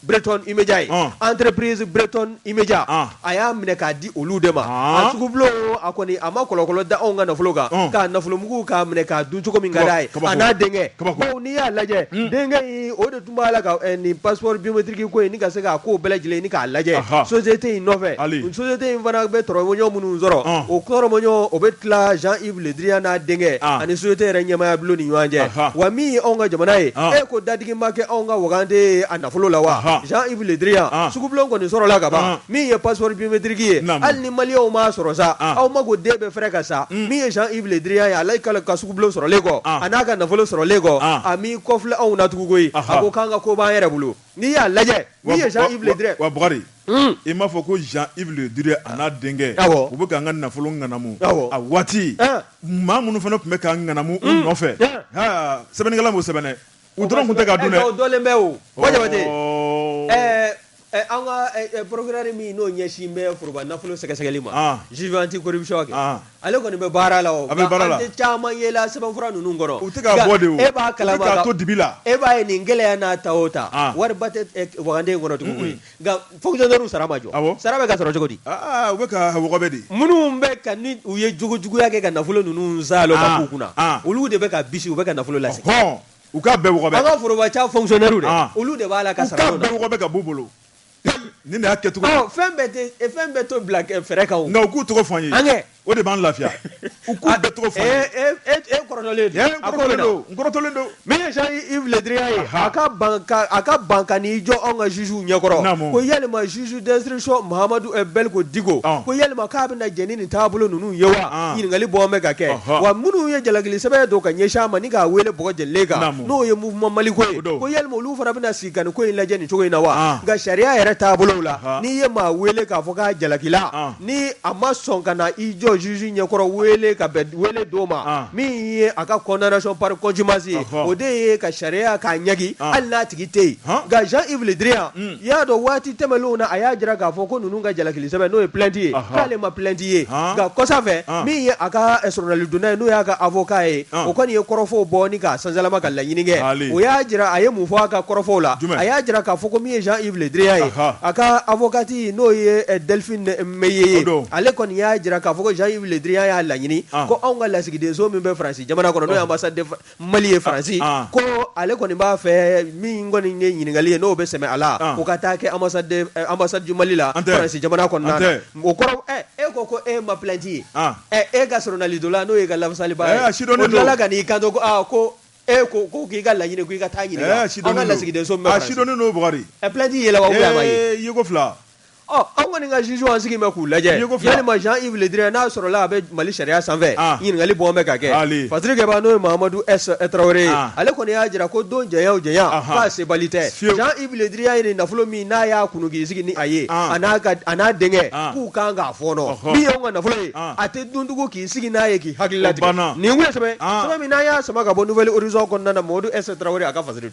Breton Imedia ye entreprise bretonne Imedia a y'a minɛ k'a di olu de ma a sugu bulon a kɔni a ma kɔlɔkɔlɔ da anw ka nafolo kan ka nafolomugu k'a minɛ k'a dun cogo min ka d'a ye a n'a denkɛ bawo n'i y'a lajɛ denkɛ in o de tun b'a la ka nin passeport biométrique ko ɲini ka se k'a ko bɛɛ lajɛlen ni k'a lajɛ société in nɔfɛ société in fana bɛ tɔrɔmɔjɔ minnu sɔrɔ o tɔrɔmɔjɔ o bɛ tila Jean Drian n'a denkɛ ani société yɛrɛ ɲɛmaya bulon ni ɲɔgɔn cɛ wa min ye anw ka jamana ye e ko dadigi ma kɛ anw ka waganden a nafolo la wa Jean Yves Le Drian sugu bulon kɔni sɔrɔla ka ban min ye passeport biométrique ye hali ni maliyɛnw m'a sɔrɔ sa aw ma ko den bɛ fɛrɛ ka sa min ye Jean Yves Le Drian ye ale ka ka sugu bulon sɔrɔlen kɔ a n'a ka nafolo sɔrɔlen kɔ a m'i kɔfilɛ anw na tugun koyi a ko k'an ka ko b'an yɛrɛ bolo N'i y'a lajɛ min ye Jean Yves Le Drian ye wa Bakari un i m'a fɔ ko Jean Yves Le Drian a n'a denkɛ awɔ u bɛ k'an ka nafolo ŋanamu awɔ a waati an maa minnu fana tun bɛ k'an ŋanamu u nɔfɛ un haa sɛbɛnnikɛla m'o sɛbɛn dɛ u dɔrɔn tun tɛ k'a dun dɛ o dɔlen bɛ o Buwa Jabate ɔɔ ɛɛ ɛ an ka ɛ ɛ procureur min n'o ɲɛsin bɛ foroba nafolo sɛgɛsɛgɛli ma an juge anti corruption kɛ an Ale kɔni bɛ baara la o, a bɛ baara la, nka an tɛ caman ye la sɛbɛnfura ninnu kɔrɔ, u tɛ k'a bɔ de o, e b'a kalama, u bɛ k'a to dibi la, e b'a ye nin gɛlɛya n'a ta o ta, an, wariba tɛ waganden in kɔnɔ tugun koyi, nka fonctionnaires sara ma jɔ, awɔ, sara bɛ ka sɔrɔ cogo di? Aa u bɛ ka wɔgɔbɛ de, minnu bɛ ka ni u ye jogojuguya kɛ ka nafolo ninnu saalo ka k'u kunna, an, olu de bɛ ka bisi u bɛ ka nafolo lasegin, ɔhɔ, u k'a bɛɛ wɔgɔbɛ, an ka foroba ca fonctionnaires dɛ, an, olu de b'a la ka sara, u k'a bɛɛ wɔgɔbɛ ka b'u bolo. Ni y'a kɛ fɛn fɛn bɛɛ tɔgɔ bila fɛrɛ kan nka u k'u tɔgɔ fɔ an ye o de b'an lafiya u k'u bɛɛ tɔgɔ fɔ kɔrɔtɔlen don min ye Jean Yves Le Drian ye a ka ban ka n'i jɔ anw ka juges ɲɛkɔrɔ ko yalima juge d'instruction Mahamadu Beliko Diko ko yalima k'a bɛ na jɛn ni taabolo ninnu ye wa ɲininkali bɔ bɛ ka kɛ wa minnu ye jalakili sɛbɛn don ka ɲɛsin a ma k'a weele bɔgɔ jɛlen kan n'o ye mouvement Maliko ye ko yalima olu fana bɛ ko in lajɛ nin cogo in na wa nka sariya yɛrɛ taabolo la n'i ye maa weele k'a fɔ k'a jalakila ni a ma sɔn ka na i jɔ juge ɲɛkɔrɔ weele ka bɛn weele don ma min ye a ka condamnation par contumace ye o de ye ka sariya k'a ɲangi hali n'a tigi tɛ yen nka Jean Yves Le Drian i y'a dɔn waati tɛmɛnlenw na a y'a jira k'a fɔ ko ninnu ka jalaki sɛbɛn n'o ye plainte ye Ɔhɔn. k'ale ma plainte ye Han. nka kɔsa fɛ Han. min ye a ka eh, soronalidonna ye n'o y'a ka avocat ye Han. o kɔni ye kɔrɔfɔw bɔ ni k'a sansalama ka laɲini kɛ Taali. o y'a jira a ye mun fɔ a ka kɔrɔfɔw la Jumɛn? a y'a jira k'a fɔ ko min ye Jean Yves Le Drian ye Aha. a ka avocate n'o ye eh, Delphine Meillet ye O don. ale kɔni y'a jira k'a fɔ ko Jean Yves Le Drian y'a laɲini An. ko anw ka lasigidenso min bɛ Faransi jamana kɔnɔ n'o ye Ɔhɔn. ambassade de Fra- Mali ye Faransi ko ale kɔni b'a fɛ min kɔni ye ɲininkali ye n'o bɛ sɛmɛ a la o ka taa kɛ ambassade du Mali la Faransi jamana kɔnɔna na o kɔrɔ e ko ko e ma plainte ye e ka soronalidonna n'o y'e ka lafasaliba ye o tilala ka n'i kanto ko e ko ko k'i ka laɲini ko i ka taa ɲininka an ka lasigidenso sidɔn n'o plainte yɛlɛ ko fila Ɔ an kɔni ka juges an sigilen bɛ k'u lajɛ, i ye ko fila, yalima Jean Yves Le Drian n'a sɔrɔla a bɛ Mali sariya sanfɛ, an, ɲininkali bɔn bɛ ka kɛ, ale, fasirikɛba n'o ye Mahamadu S Tarawele ye, an, ale kɔni y'a jira ko don janya o janya, anhan, k'a sebali tɛ, fiyewu, Jean Yves Le Drian ye nin nafolo min n'a y'a kunun k'i sigi ni a ye, an, a n'a ka a n'a denkɛ, an, k'u ka kan k'a fɔɔnɔ, ɔhɔ, min y'anw ka nafolo ye, an, a tɛ dun tugun k'i sigi n'a ye k'i hakili latigɛ, o banna, nin tun ye sɛbɛn ye, an, sɛbɛn min n'an y'a sama ka bɔ Nouvel Horizon kɔnɔna na Mahamadu S Tarawele a ka fasiri don.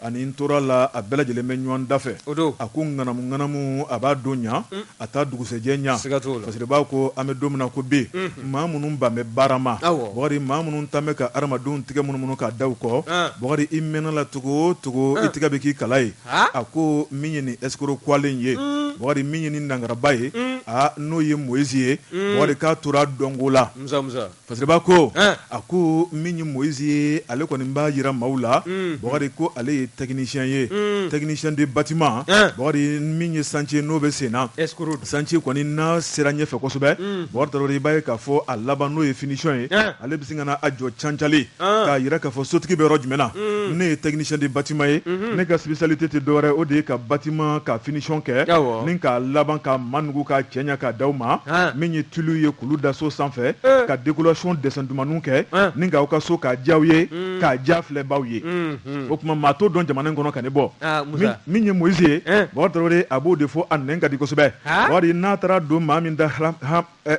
Ani n tora la a bɛɛ lajɛlen bɛ ɲɔgɔn da fɛ, o don, a ko ŋanamu ŋanamu a b'a don ɲa, un, a t'a dugusɛjɛ ɲa, siga t'o la, fasiriba ko an bɛ don min na ko bi, unhun, maa minnu ban bɛ baara ma, awɔ, Bukari maa minnu tan bɛ ka hadamadenw tigɛ munumunu k'a da u kɔ, an, Bukari i mɛnna la cogo o cogo, an, i tigɛ bɛ k'i kala ye, haa, a ko min ye nin ɛsikoroku wale in ye, un, Bukari min ye nin nangaraba ye, un, aa n'o ye moyizi ye, un, Bukari k'a tora dɔnko la, musa musa. Fasiriba ko a ko min ye mɔyisi ye ale kɔni b'a jira maaw la Bukari ko ale ye technicien ye technicien de bâtiment Bukari min ye chantier n'o bɛ sen na chantier kɔni n'a sera ɲɛfɛ kosɛbɛ Bukari Tarawele i b'a ye k'a fɔ a laban n'o ye finition ye ale bɛ se ka na a jɔ cancalen k'a jira k'a fɔ sotigi bɛ yɔrɔ jumɛn na ne ye technicien de bâtiment ye ne ka spécialité tɛ dɔwɛrɛ o de ye ka bâtiment ka finition kɛ ni k'a laban ka manugu k'a cɛɲɛ k'a di aw ma min ye tulu ye olu da so sanfɛ eh. ka décoration dessin dumanw kɛ eh. ni k'aw ka so k'a diyaw ye hmm. k'a diya filɛbaw ye hmm, hmm. o tuma maa t'o dɔn jamana in kɔnɔ ka ne bɔ ah, min ye Moïse ye eh. Bukari Tarawele a b'o de fɔ a nɛn ka di kosɛbɛ Bukari n'a taara don maa min da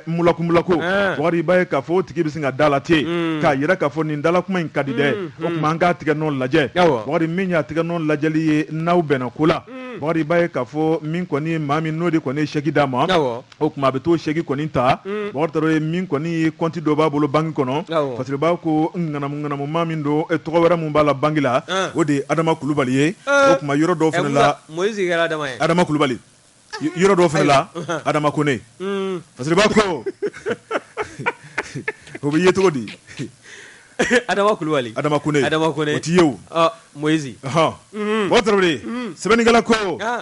mulakumulaku Bukari i b'a ye k'a fɔ o tigi bɛ sin ka da la ten k'a yira k'a fɔ nin dalakuma in ka di dɛ o tuma an k'a tigɛ nɔ lajɛ Bukari min y'a tigɛ nɔ lajɛli ye n'aw bɛnna ko la Bukari i b'a ye k'a fɔ min kɔni maa min n'o de kɔni ye sɛki d'a ma o tuma a bɛ t'o sɛki kɔni ta Bukari Tarawele min kɔni ye kɔnti dɔ b'a bolo banki kɔnɔ Fasiriba ko ŋanamu ŋanamu maa min don tɔgɔ wɛrɛ min b'a la banki la o de ye Adama Kulubali ye o tuma yɔrɔ dɔw fana la Moyizi kɛra Adama ye Adama Kulubali yɔrɔ dɔw fana la Adama Kone Fasiriba ko o bɛ ye cogo di. adama kulubali adama kone o tɛ ye mɔyisi bakari tarawele sɛbɛnnikɛla ko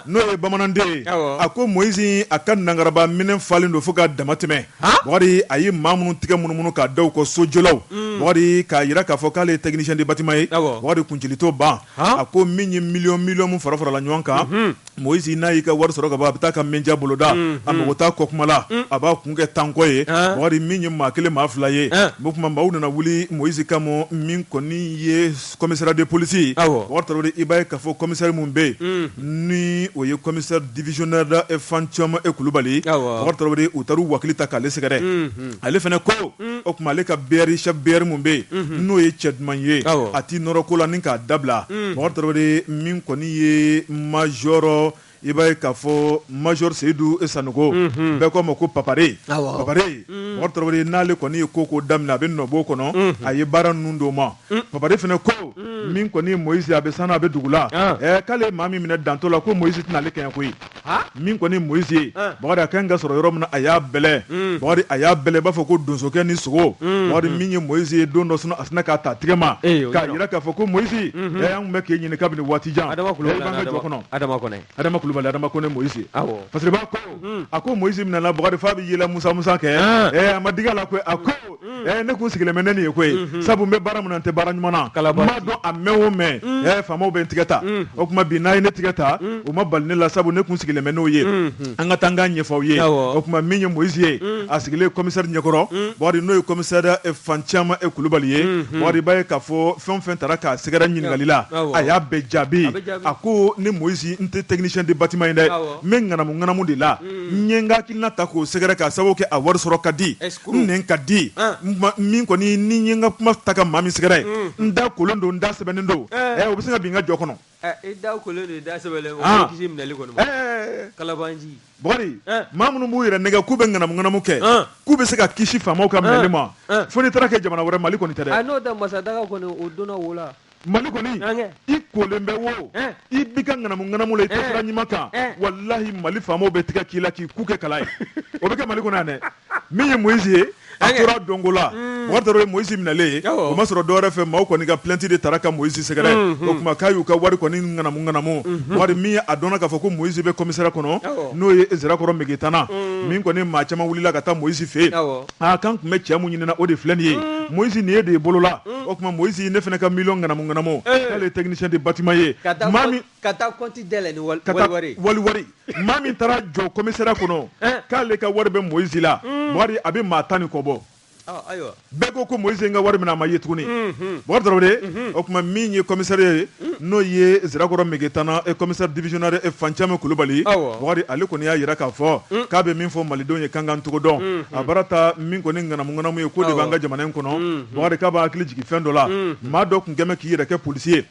n'o ye bamananden a ko mɔyisi a ka nangaraba minɛn falen don fo ka dama tɛmɛ bakari a ye maa minnu tigɛ munumunu k'a da u kɔ sojɔlaw bakari k'a jira k'a fɔ k'ale ye technicien de bâtiment ye bakari kuncili t'o ban a ko min ye miliyɔn miliyɔn min fara farala ɲɔgɔn kan Moise n'a y'i ka wari sɔrɔ ka ban a bɛ taa ka menja boloda a mago t'a kɔ kuma la a b'a kun kɛ tankɔ ye Bakari min ye maa kelen maa fila ye o tuma maaw nana wuli Moise kama min kɔni ye commissariat de police ye Bakari Tarawele i b'a ye k'a fɔ commissaire min bɛ yen ni o ye commissaire divisionnaire Fantiémé Kulubali ye Bakari Tarawele u taar'u wakili ta k'ale sɛgɛrɛ ale fana ko o tuma ale ka BR chef BR min bɛ yen n'o ye cɛ duman ye a t'i nɔrɔ ko la ni k'a dabila bakari tarawele min kɔni ye mazɔrɔ i b'a ye k'a fɔ mazɔrɔ seyidu sanɔgɔ bɛɛ k'a ma ko papare papare bakari tarawele n'ale kɔni ye ko ko daminɛ a bɛ nɔbɔ kɔnɔ a ye baara ninnu d'o ma papare fana ko min kɔni ye mɔyisi a bɛ san a bɛ dugu la k'ale maa min minɛ dantɔ la ko mɔyisi tɛna ale kɛɲɛ koyi min kɔni moise ye bakari a ka kan ka sɔrɔ yɔrɔ min na a y'a bɛlɛ hmm. bakari a y'a bɛlɛ i b'a fɔ ko donsokɛ ni sogo hmm. bakari min ye moise ye don dɔ sɔgɔma a sinna k'a ta tigɛ ma eh, k'a jira k'a fɔ ko moise hmm. an tun bɛ k'e ɲini kabini waati jan jɔ kɔnɔ adama kulubali adama kone moise parce que b'a ko a ko moise minɛna bakari f'a bɛ yɛlɛ musamusa kɛ eh, a ma dig'a la koyi a ko mm. ne kun sigilen bɛ ni nin ye koyi mm-hmm. sabu n bɛ baara min na n tɛ baara ɲuman na n b'a dɔn a mɛn o mɛn mm. faamaw bɛ n tigɛ ta mm. o tuma bi n'a ye ne tigɛ ta o ma bala ne la sabu ne kun sigilen bɛ n'o ye mm-hmm. an ka taa n k'a ɲɛfɔ aw ye o tuma min ye moyizi ye a sigilen kɔmisɛri ɲɛkɔrɔ bakari n'o ye kɔmisɛri eh, fantiémé eh, kulubali ye mm-hmm. bakari i b'a ye k'a fɔ fɛn o fɛn taara k'a sɛgɛrɛ ɲininkali la a y'a bɛɛ jaabi a ko ne moyizi n tɛ technicien de bâtiment ye dɛ n bɛ ŋanamu ŋanamu de la n ye n ka hakilina ta k'o sɛgɛrɛ k'a sababu kɛ a wari sɔrɔ ka di n nɛn ka di min kɔni ni n ye n ka kuma ta ka maa min sɛgɛrɛ n da kolen don n da sɛbɛnnen don o bɛ se ka bin n ka jɔ kɔnɔ bakari maa minnu b'u yɛrɛ nɛgɛ k'u bɛ ŋanamu ŋanamu kɛ k'u bɛ se ka kisi faamaw ka minɛli ma fo n'i taara kɛ jamana wɛrɛ mali kɔni tɛ mali kɔni i kolen bɛ wo i b'i ka ŋanamu ŋanamu la i tɛ sira ɲuman kan walahi mali faamaw bɛ tigɛ k'i la k'i ku kɛ kala ye o bɛ kɛ mali kɔnɔ yan dɛ min ye moyizi ye a tora donko la mm. bakari tarawele moyizi minɛlen o ma sɔrɔ dɔwɛrɛ fɛ maaw kɔni ka plainte de taara ka moyizi sɛgɛrɛ mm-hmm. o tuma k'a y'u ka wari kɔni ŋanamu ŋanamu mm-hmm. bakari min ye a dɔnna k'a fɔ ko moyizi bɛ commissariat kɔnɔ n'o ye zirakɔrɔ megitana mm. min kɔni maa caman wulila ka taa moyizi fɛ yen aa k'an tun bɛ cɛ min ɲinina o de filɛ nin ye moyisi nin ye de ye bolo la o tuma moyisi ne fana ka miliyɔn ŋanamu ŋanamu k'ale ye technicien de bâtiment ye ka taa compte dayɛlɛ ni waliwari waliwari maa min taara jɔ commissariat kɔnɔ k'ale ka wari bɛ moyisi la bɔkari a bɛ maa tan ni kɔ bɔ bɛɛ ko ko moyisi ye n ka wari minɛ a ma ye tuguni bɔkari tarawele o tuma min ye commissariat ye n'o ye sirakɔrɔ megetana ye commissaire divisionnaire fancɛmɛ kulubali bɔkari ale kɔni y'a jira k'a fɔ k'a bɛ min fɔ malidenw ye kankan cogo dɔn a baara taa min kɔni ni ŋanamu ye k'o de b'an ka jamana in kɔnɔ bɔkari k'a b'a hakili jigin fɛn dɔ la maa dɔ tun bɛ k'i yɛrɛ kɛ polisi ye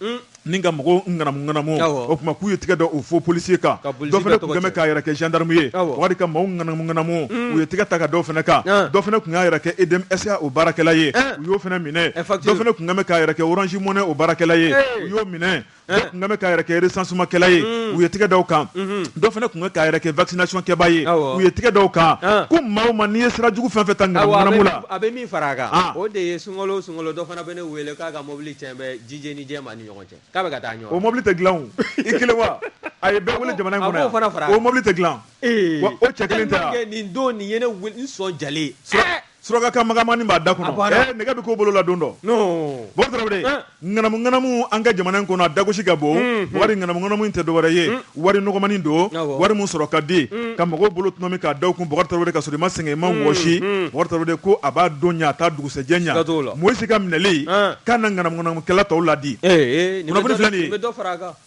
ni ka mɔgɔw ŋanamu o tuma k'u ye tɛgɛ da o faux polisi kan dɔ fana tun bɛ k'a yɛrɛ kɛ jandamu ye bɔkari ka mɔgɔw ŋanamu ŋanamu u ye tɛgɛ ta ka d'o fana kan dɔ fana tun y'a yɛrɛ kɛ EDM SA o baarakɛla ye u y'o fana minɛ dɔ fana tun bɛ k'a yɛrɛ kɛ orange money o baarakɛla ye u y'o minɛ dɔ tun bɛ k'a yɛrɛ kɛ recensement kɛla ye u ye tɛgɛ da o kan dɔ fana tun bɛ k'a yɛrɛ kɛ vaccination kɛbaa ye u ye tɛgɛ da o kan ko maa o maa n'i ye sira jugu fɛn o fɛn ta ŋanamu ŋanamu la a bɛ min far'a kan o de ye sunkalo o sunkalo dɔ fana bɛ ne wele k'a ka mobili cɛn bɛ jijɛni jɛma ni ɲɔgɔn cɛ k'a bɛ ka taa ɲɔrɔn o mobili tɛ dilan o i kelen wa a ye bɛɛ wele jamana in kɔnɔ yan a b'o fana far'a kan o mobili tɛ dilan wa o cɛ kelen tɛ wa ee tellement que nin don nin ye ne wele n sɔn jalen suraka ka bamanankannin b'a da kɔnɔ eh, nɛgɛ bɛ k'o bolo la don dɔ bɔkari tarawele eh. ŋanamu ŋanamu an ka jamana in kɔnɔ a dagosi ka bon hmm, hmm. wari ŋanamu ŋanamu in tɛ dɔwɛrɛ ye hmm. wari nɔgɔmani don wari min sɔrɔ ka di ka mɔgɔw bolo tɔnɔmi k'a da kun bɔkari tarawele ka sɔrɔ i ma sɛgɛn i ma wɔsi bɔkari tarawele ko a b'a don ɲa a t'a dugusɛjɛ ɲa moyisi ka minɛli eh. k'a na ŋanamu ŋanamukɛla tɔw ladi kunnafoni filɛ nin ye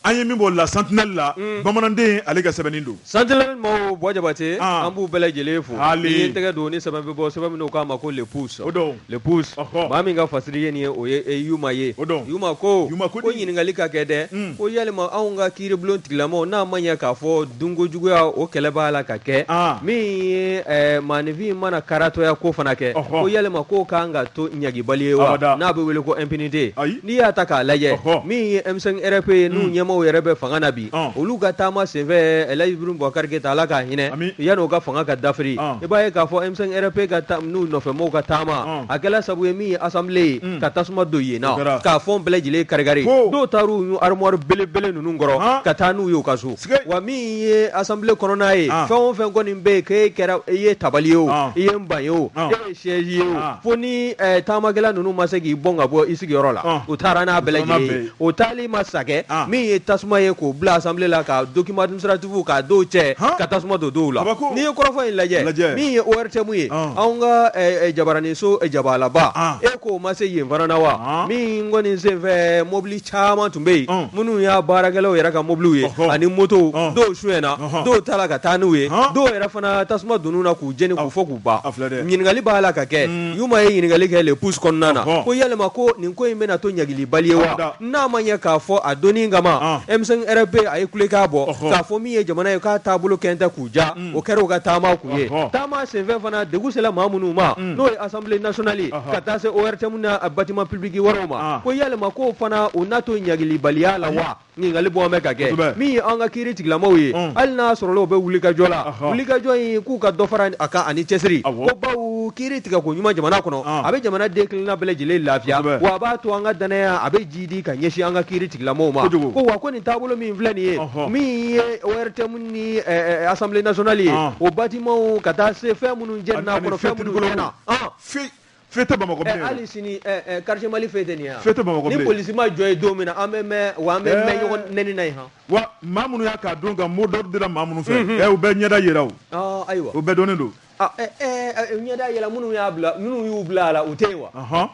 An ye min b'o la sentinelle la bamananden ale ka sɛbɛnni don. Sentinelle mɔɔw Buwa Jabate an b'u bɛɛ lajɛlen fo. Haali! N'i ye tɛgɛ don ni sɛbɛn bɛ bɔ sɛbɛn min n'o k'a ma ko le pouce o don le pouce ɔhɔ maa min ka fasiri ye nin ye o ye Yuma ye o don Yuma ko Yuma ko di ko ɲininkali ka kɛ dɛ un ko yalima anw ka kiiribulon tigilamɔɔw n'a ma ɲɛ k'a fɔ dunko juguya o kɛlɛ b'a la ka kɛ an min ye ɛɛ maaninfin mana karatɔya k'o fana kɛ ɔhɔ ko yalima k'o ka kan ka to ɲangibali ye wa abada n'a bɛ wele ko impunité ayi N'i y'a ta k'a lajɛ min ye M5 RFP ye n'u ɲɛmɔgɔw yɛrɛ bɛ fanga na bi olu ka taama senfɛ Alaji Ibrahim Boubacar Keita ala k'a hinɛ yann'o ka fanga ka dafiri i b'a ye k'a fɔ M5 RFP ka n'u nɔfɛ mɔgɔw ka taama a kɛla sabu ye min ye assemblée ye ka tasuma don yen na ka fɛn bɛɛ lajɛlen kari-kari dɔw taara armoire belebele ninnu kɔrɔ ka taa n'u y'u ka so wa min ye assemblée kɔnɔna ye fɛn o fɛn kɔni bɛ yen k'i kɛra i ye tabali ye o i ye banc ye o siège ye o ah. fo ni eh, taamakɛla ninnu ma se k'i bɔn ka bɔ i sigiyɔrɔ la ah. u taara n'a bɛɛ lajɛlen ye o taali ma wasa kɛ ah. min ye tasuma ye k'o bila assemblée la ka document administratif k'a dɔw cɛ ka tasuma don dɔw la n'i ye kɔrɔfɔ in lajɛ min ye ORTM ye anw ka eh, eh, jabaraninso jabalaba e k'u ma se yen fana na wa min kɔni senfɛ mobili caman tun bɛ yen minnu y'a baarakɛlaw yɛrɛ ka mobiliw ye ani motow dɔw suɲɛna dɔw taara ka taa n'u ye dɔw yɛrɛ fana tasuma donn'u na k'u jeni k'u fɔ k'u ɲininkali b'a la ka kɛ Yuma ye ɲininkali kɛ le pouce kɔnɔna na ko yalima ko nin ko in bɛna to ɲangilibali ye wa n'a ma ɲɛ k'a fɔ a don in kama M5 RFP a ye kulekan bɔ k'a fɔ min ye jamana ye k'a taabolo kɛ tɛ k'u diya o kɛra u ka taama kun ye taama senfɛ fana degun sera maa minnu ma n'o ye Assemblée nationale ka taa se ORTM n'a bâtiment public wɛrɛw ma ko yalima ko fana o na to ɲangilibaliya la wa Ɲininkali bɔ bɛ ka kɛ Kosɛbɛ. min ye an ka kiiri tigilamaw ye Un. hali n'a sɔrɔla u bɛ wulikajɔ la Ɔhɔ. wulikajɔ in k'u ka dɔ fara a kan ani cɛsiri Awɔ. ko bawo kiiri tigɛko ɲuman jamana kɔnɔ An. a bɛ jamanaden kelenna bɛɛ lajɛlen lafiya Kosɛbɛ. wa a b'a to an ka danaya a bɛ jiidi ka ɲɛsin an ka kiiri tigilamaw ma Kojugu. ko wa ko nin taabolo min filɛ nin ye Ɔhɔ. min ye ORTM ni ɛ, ɛ, Assemblée nationale ye An. o bâtiments ka taa se fɛn minnu jenina a kɔnɔ fɛn minnu tiɲɛna An. Fi- feu tɛ bamakɔ bilen hali sini quartier mali feu tɛ nin ya feu tɛ bamakɔ bilen ni polisi ma jɔ yen don min na an bɛ mɛn wa an bɛ mɛn ɲɔgɔn nɛni na yen han wa maa minnu y'a k'a dɔn ka mot d'ordre dira maa minnu fɛ ɛ u bɛɛ ɲɛda yera o ayiwa u bɛɛ dɔnnen don ɲɛda yera minnu y'a bila minnu y'u bila a la u tɛ yen wa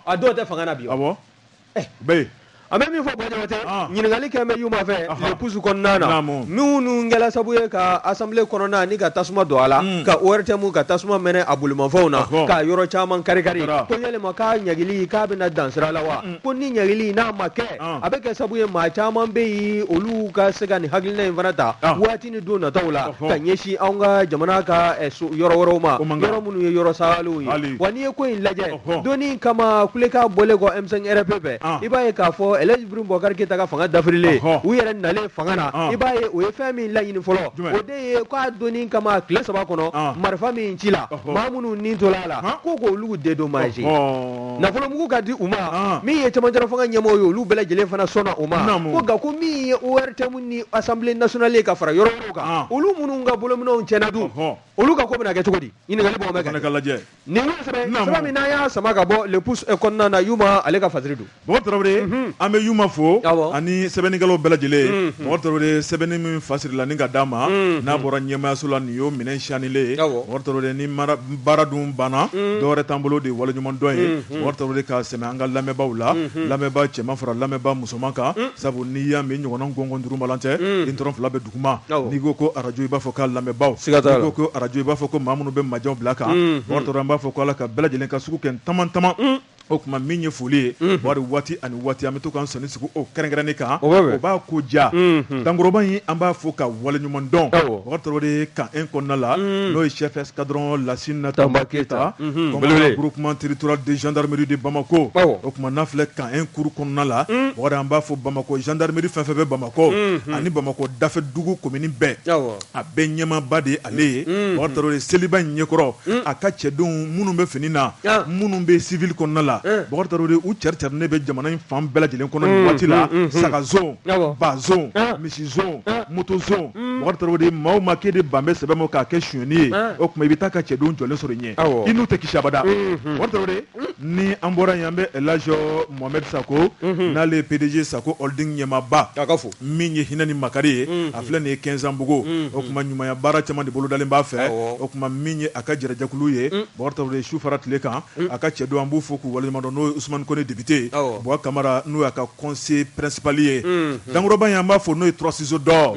a dɔw tɛ fanga na bi awɔ eh, bɛɛ an bɛ min fɔ bajamate ah. ɲininkali kɛ bɛ yuma fɛ le pouce kɔnɔna na minnu kɛla sabu ye ka Assemblée kɔnɔna ni ka tasuma don a la hmm. ka ORTM ka tasuma mɛnɛ a bolimafɛnw na ka yɔrɔ caman karikari ko yalima k'a ɲangili k'a bɛna dan sira la wa hmm. ko ni ɲangili n'a ma kɛ ah. a bɛ kɛ sabu ye maa caman bɛ yen olu ka se ka nin hakilina in fana ta ah. waati ni don nataw la ka ɲɛsin an ka jamana ka eh, yɔrɔ wɛrɛw ma yɔrɔ minnu ye yɔrɔ salenw ye wa n'i ye ko in lajɛ don in kama kulekan bɔlen kɔ M5 RFP fɛ i b'a ye k'a fɔ El Hadj Ibrahim Boubacar Keïta ka fanga dafirilen u yɛrɛ nalen fanga na i b'a ye o ye fɛn min laɲini fɔlɔ o de ye k'a don in kama tile saba kɔnɔ marifa min cila maa minnu ni tora a la ko k' olu dédommager nafolomugu ka di u ma min ye cɛmancɛla fanga ɲɛmɔgɔw ye olu bɛɛ lajɛlen fana sɔnna o ma nka ko min ye ORTM ni Assemblée nationale ka fara yɔrɔ kan olu minnu ka bolominɛnw cɛnna dun olu ka ko bɛna kɛ cogo di Nin y'o sɛbɛn Naamu. sɛbɛn min n'an y'a sama ka bɔ le pouce eh, kɔnɔna na Yuma ale ka fasiri don. Mɔgɔ Tarawele an bɛ Yuma fo Awɔ. ani sɛbɛnnikɛlaw bɛɛ lajɛlen Mɔgɔ Tarawele sɛbɛnni min fasirila ni ka d'a ma n'a bɔra ɲɛmaayaso la nin y'o minɛn siyanilen ye Awɔ. Mɔgɔ Tarawele ni mara- baara dun banna dɔwɛrɛ t'an bolo dɛ waleɲumandɔn ye Mɔgɔ Tarawele ka sɛmɛ an ka lamɛnbaaw la lamɛnbaa cɛman fara lamɛnbaa musoman kan sabu n'i y'a mɛn ɲɔgɔnna gɔngɔn duuru balan tɛ i ntɔrɔn fila bɛ duguma n'i ko ko arajo i b'a fɔ ka lamɛnbaw n'i ko ko arajo i b'a fɔ ko maa minnu bɛ majɛw bila kan n b'a fɔ k'Ala ka bɛɛ lajɛlen ka sugu kɛ tama tama o tuma min ye foli ye wari waati ani waati an bɛ to k'an sɔnin sigi o kɛrɛnkɛrɛnnen kan o b'a ko ja dankɔrɔba in an b'a fɔ k'a waleɲumandɔn de camp un kɔnɔna la n'o ye chef escadron Lassina Tamba Keïta commandant groupement territorial de gendarmerie de Bamako o tuma n'a filɛ camp un kuru kɔnɔna la o an b'a fɔ bamakɔ jandarimeri fɛn o fɛn bɛ bamakɔ bamakɔ ani bamakɔ dafɛ dugu commune bɛɛ a bɛɛ ɲɛmaaba de ye ale ye bakari tarawele de seliba in ɲɛkɔrɔ a ka cɛdenw minnu bɛ fini na minnu bɛ civil kɔnɔna la bakari tarawele de u cɛricɛrinen bɛ jamana in fan bɛɛ lajɛlen kɔnɔ nin waati la saga zone ba zone misi zone moto zone bakari tarawele de maa o maa k'e de ban bɛ sɛbɛ ma k'a kɛ sonyɛni ye o tuma i bɛ taa a ka cɛdenw jɔlen sɔrɔ i ɲɛ i n'u tɛ kisi abada ni an bɔra yen an bɛ laji mohamed sakɔ mhm. n'ale ye pdg sakɔ holding ɲɛmaaba fo min ye hinɛ ni makari ye mhm. a filɛ nin ye kɛnzanbugu mhm. o tuma ɲumanya baara caman de bolodalen b'a fɛ o tuma min ye a ka jɛrɛ jɛkulu ye bakari de su fara tile kan a ka cɛdenw an b'u fo k'u waleɲumandɔn n'o ye usumani kɔnɛ député buwa kamara n'o y'a ka conseiller principal ye dankɔrɔba in an b'a fo n'o ye trois ciseaux d'or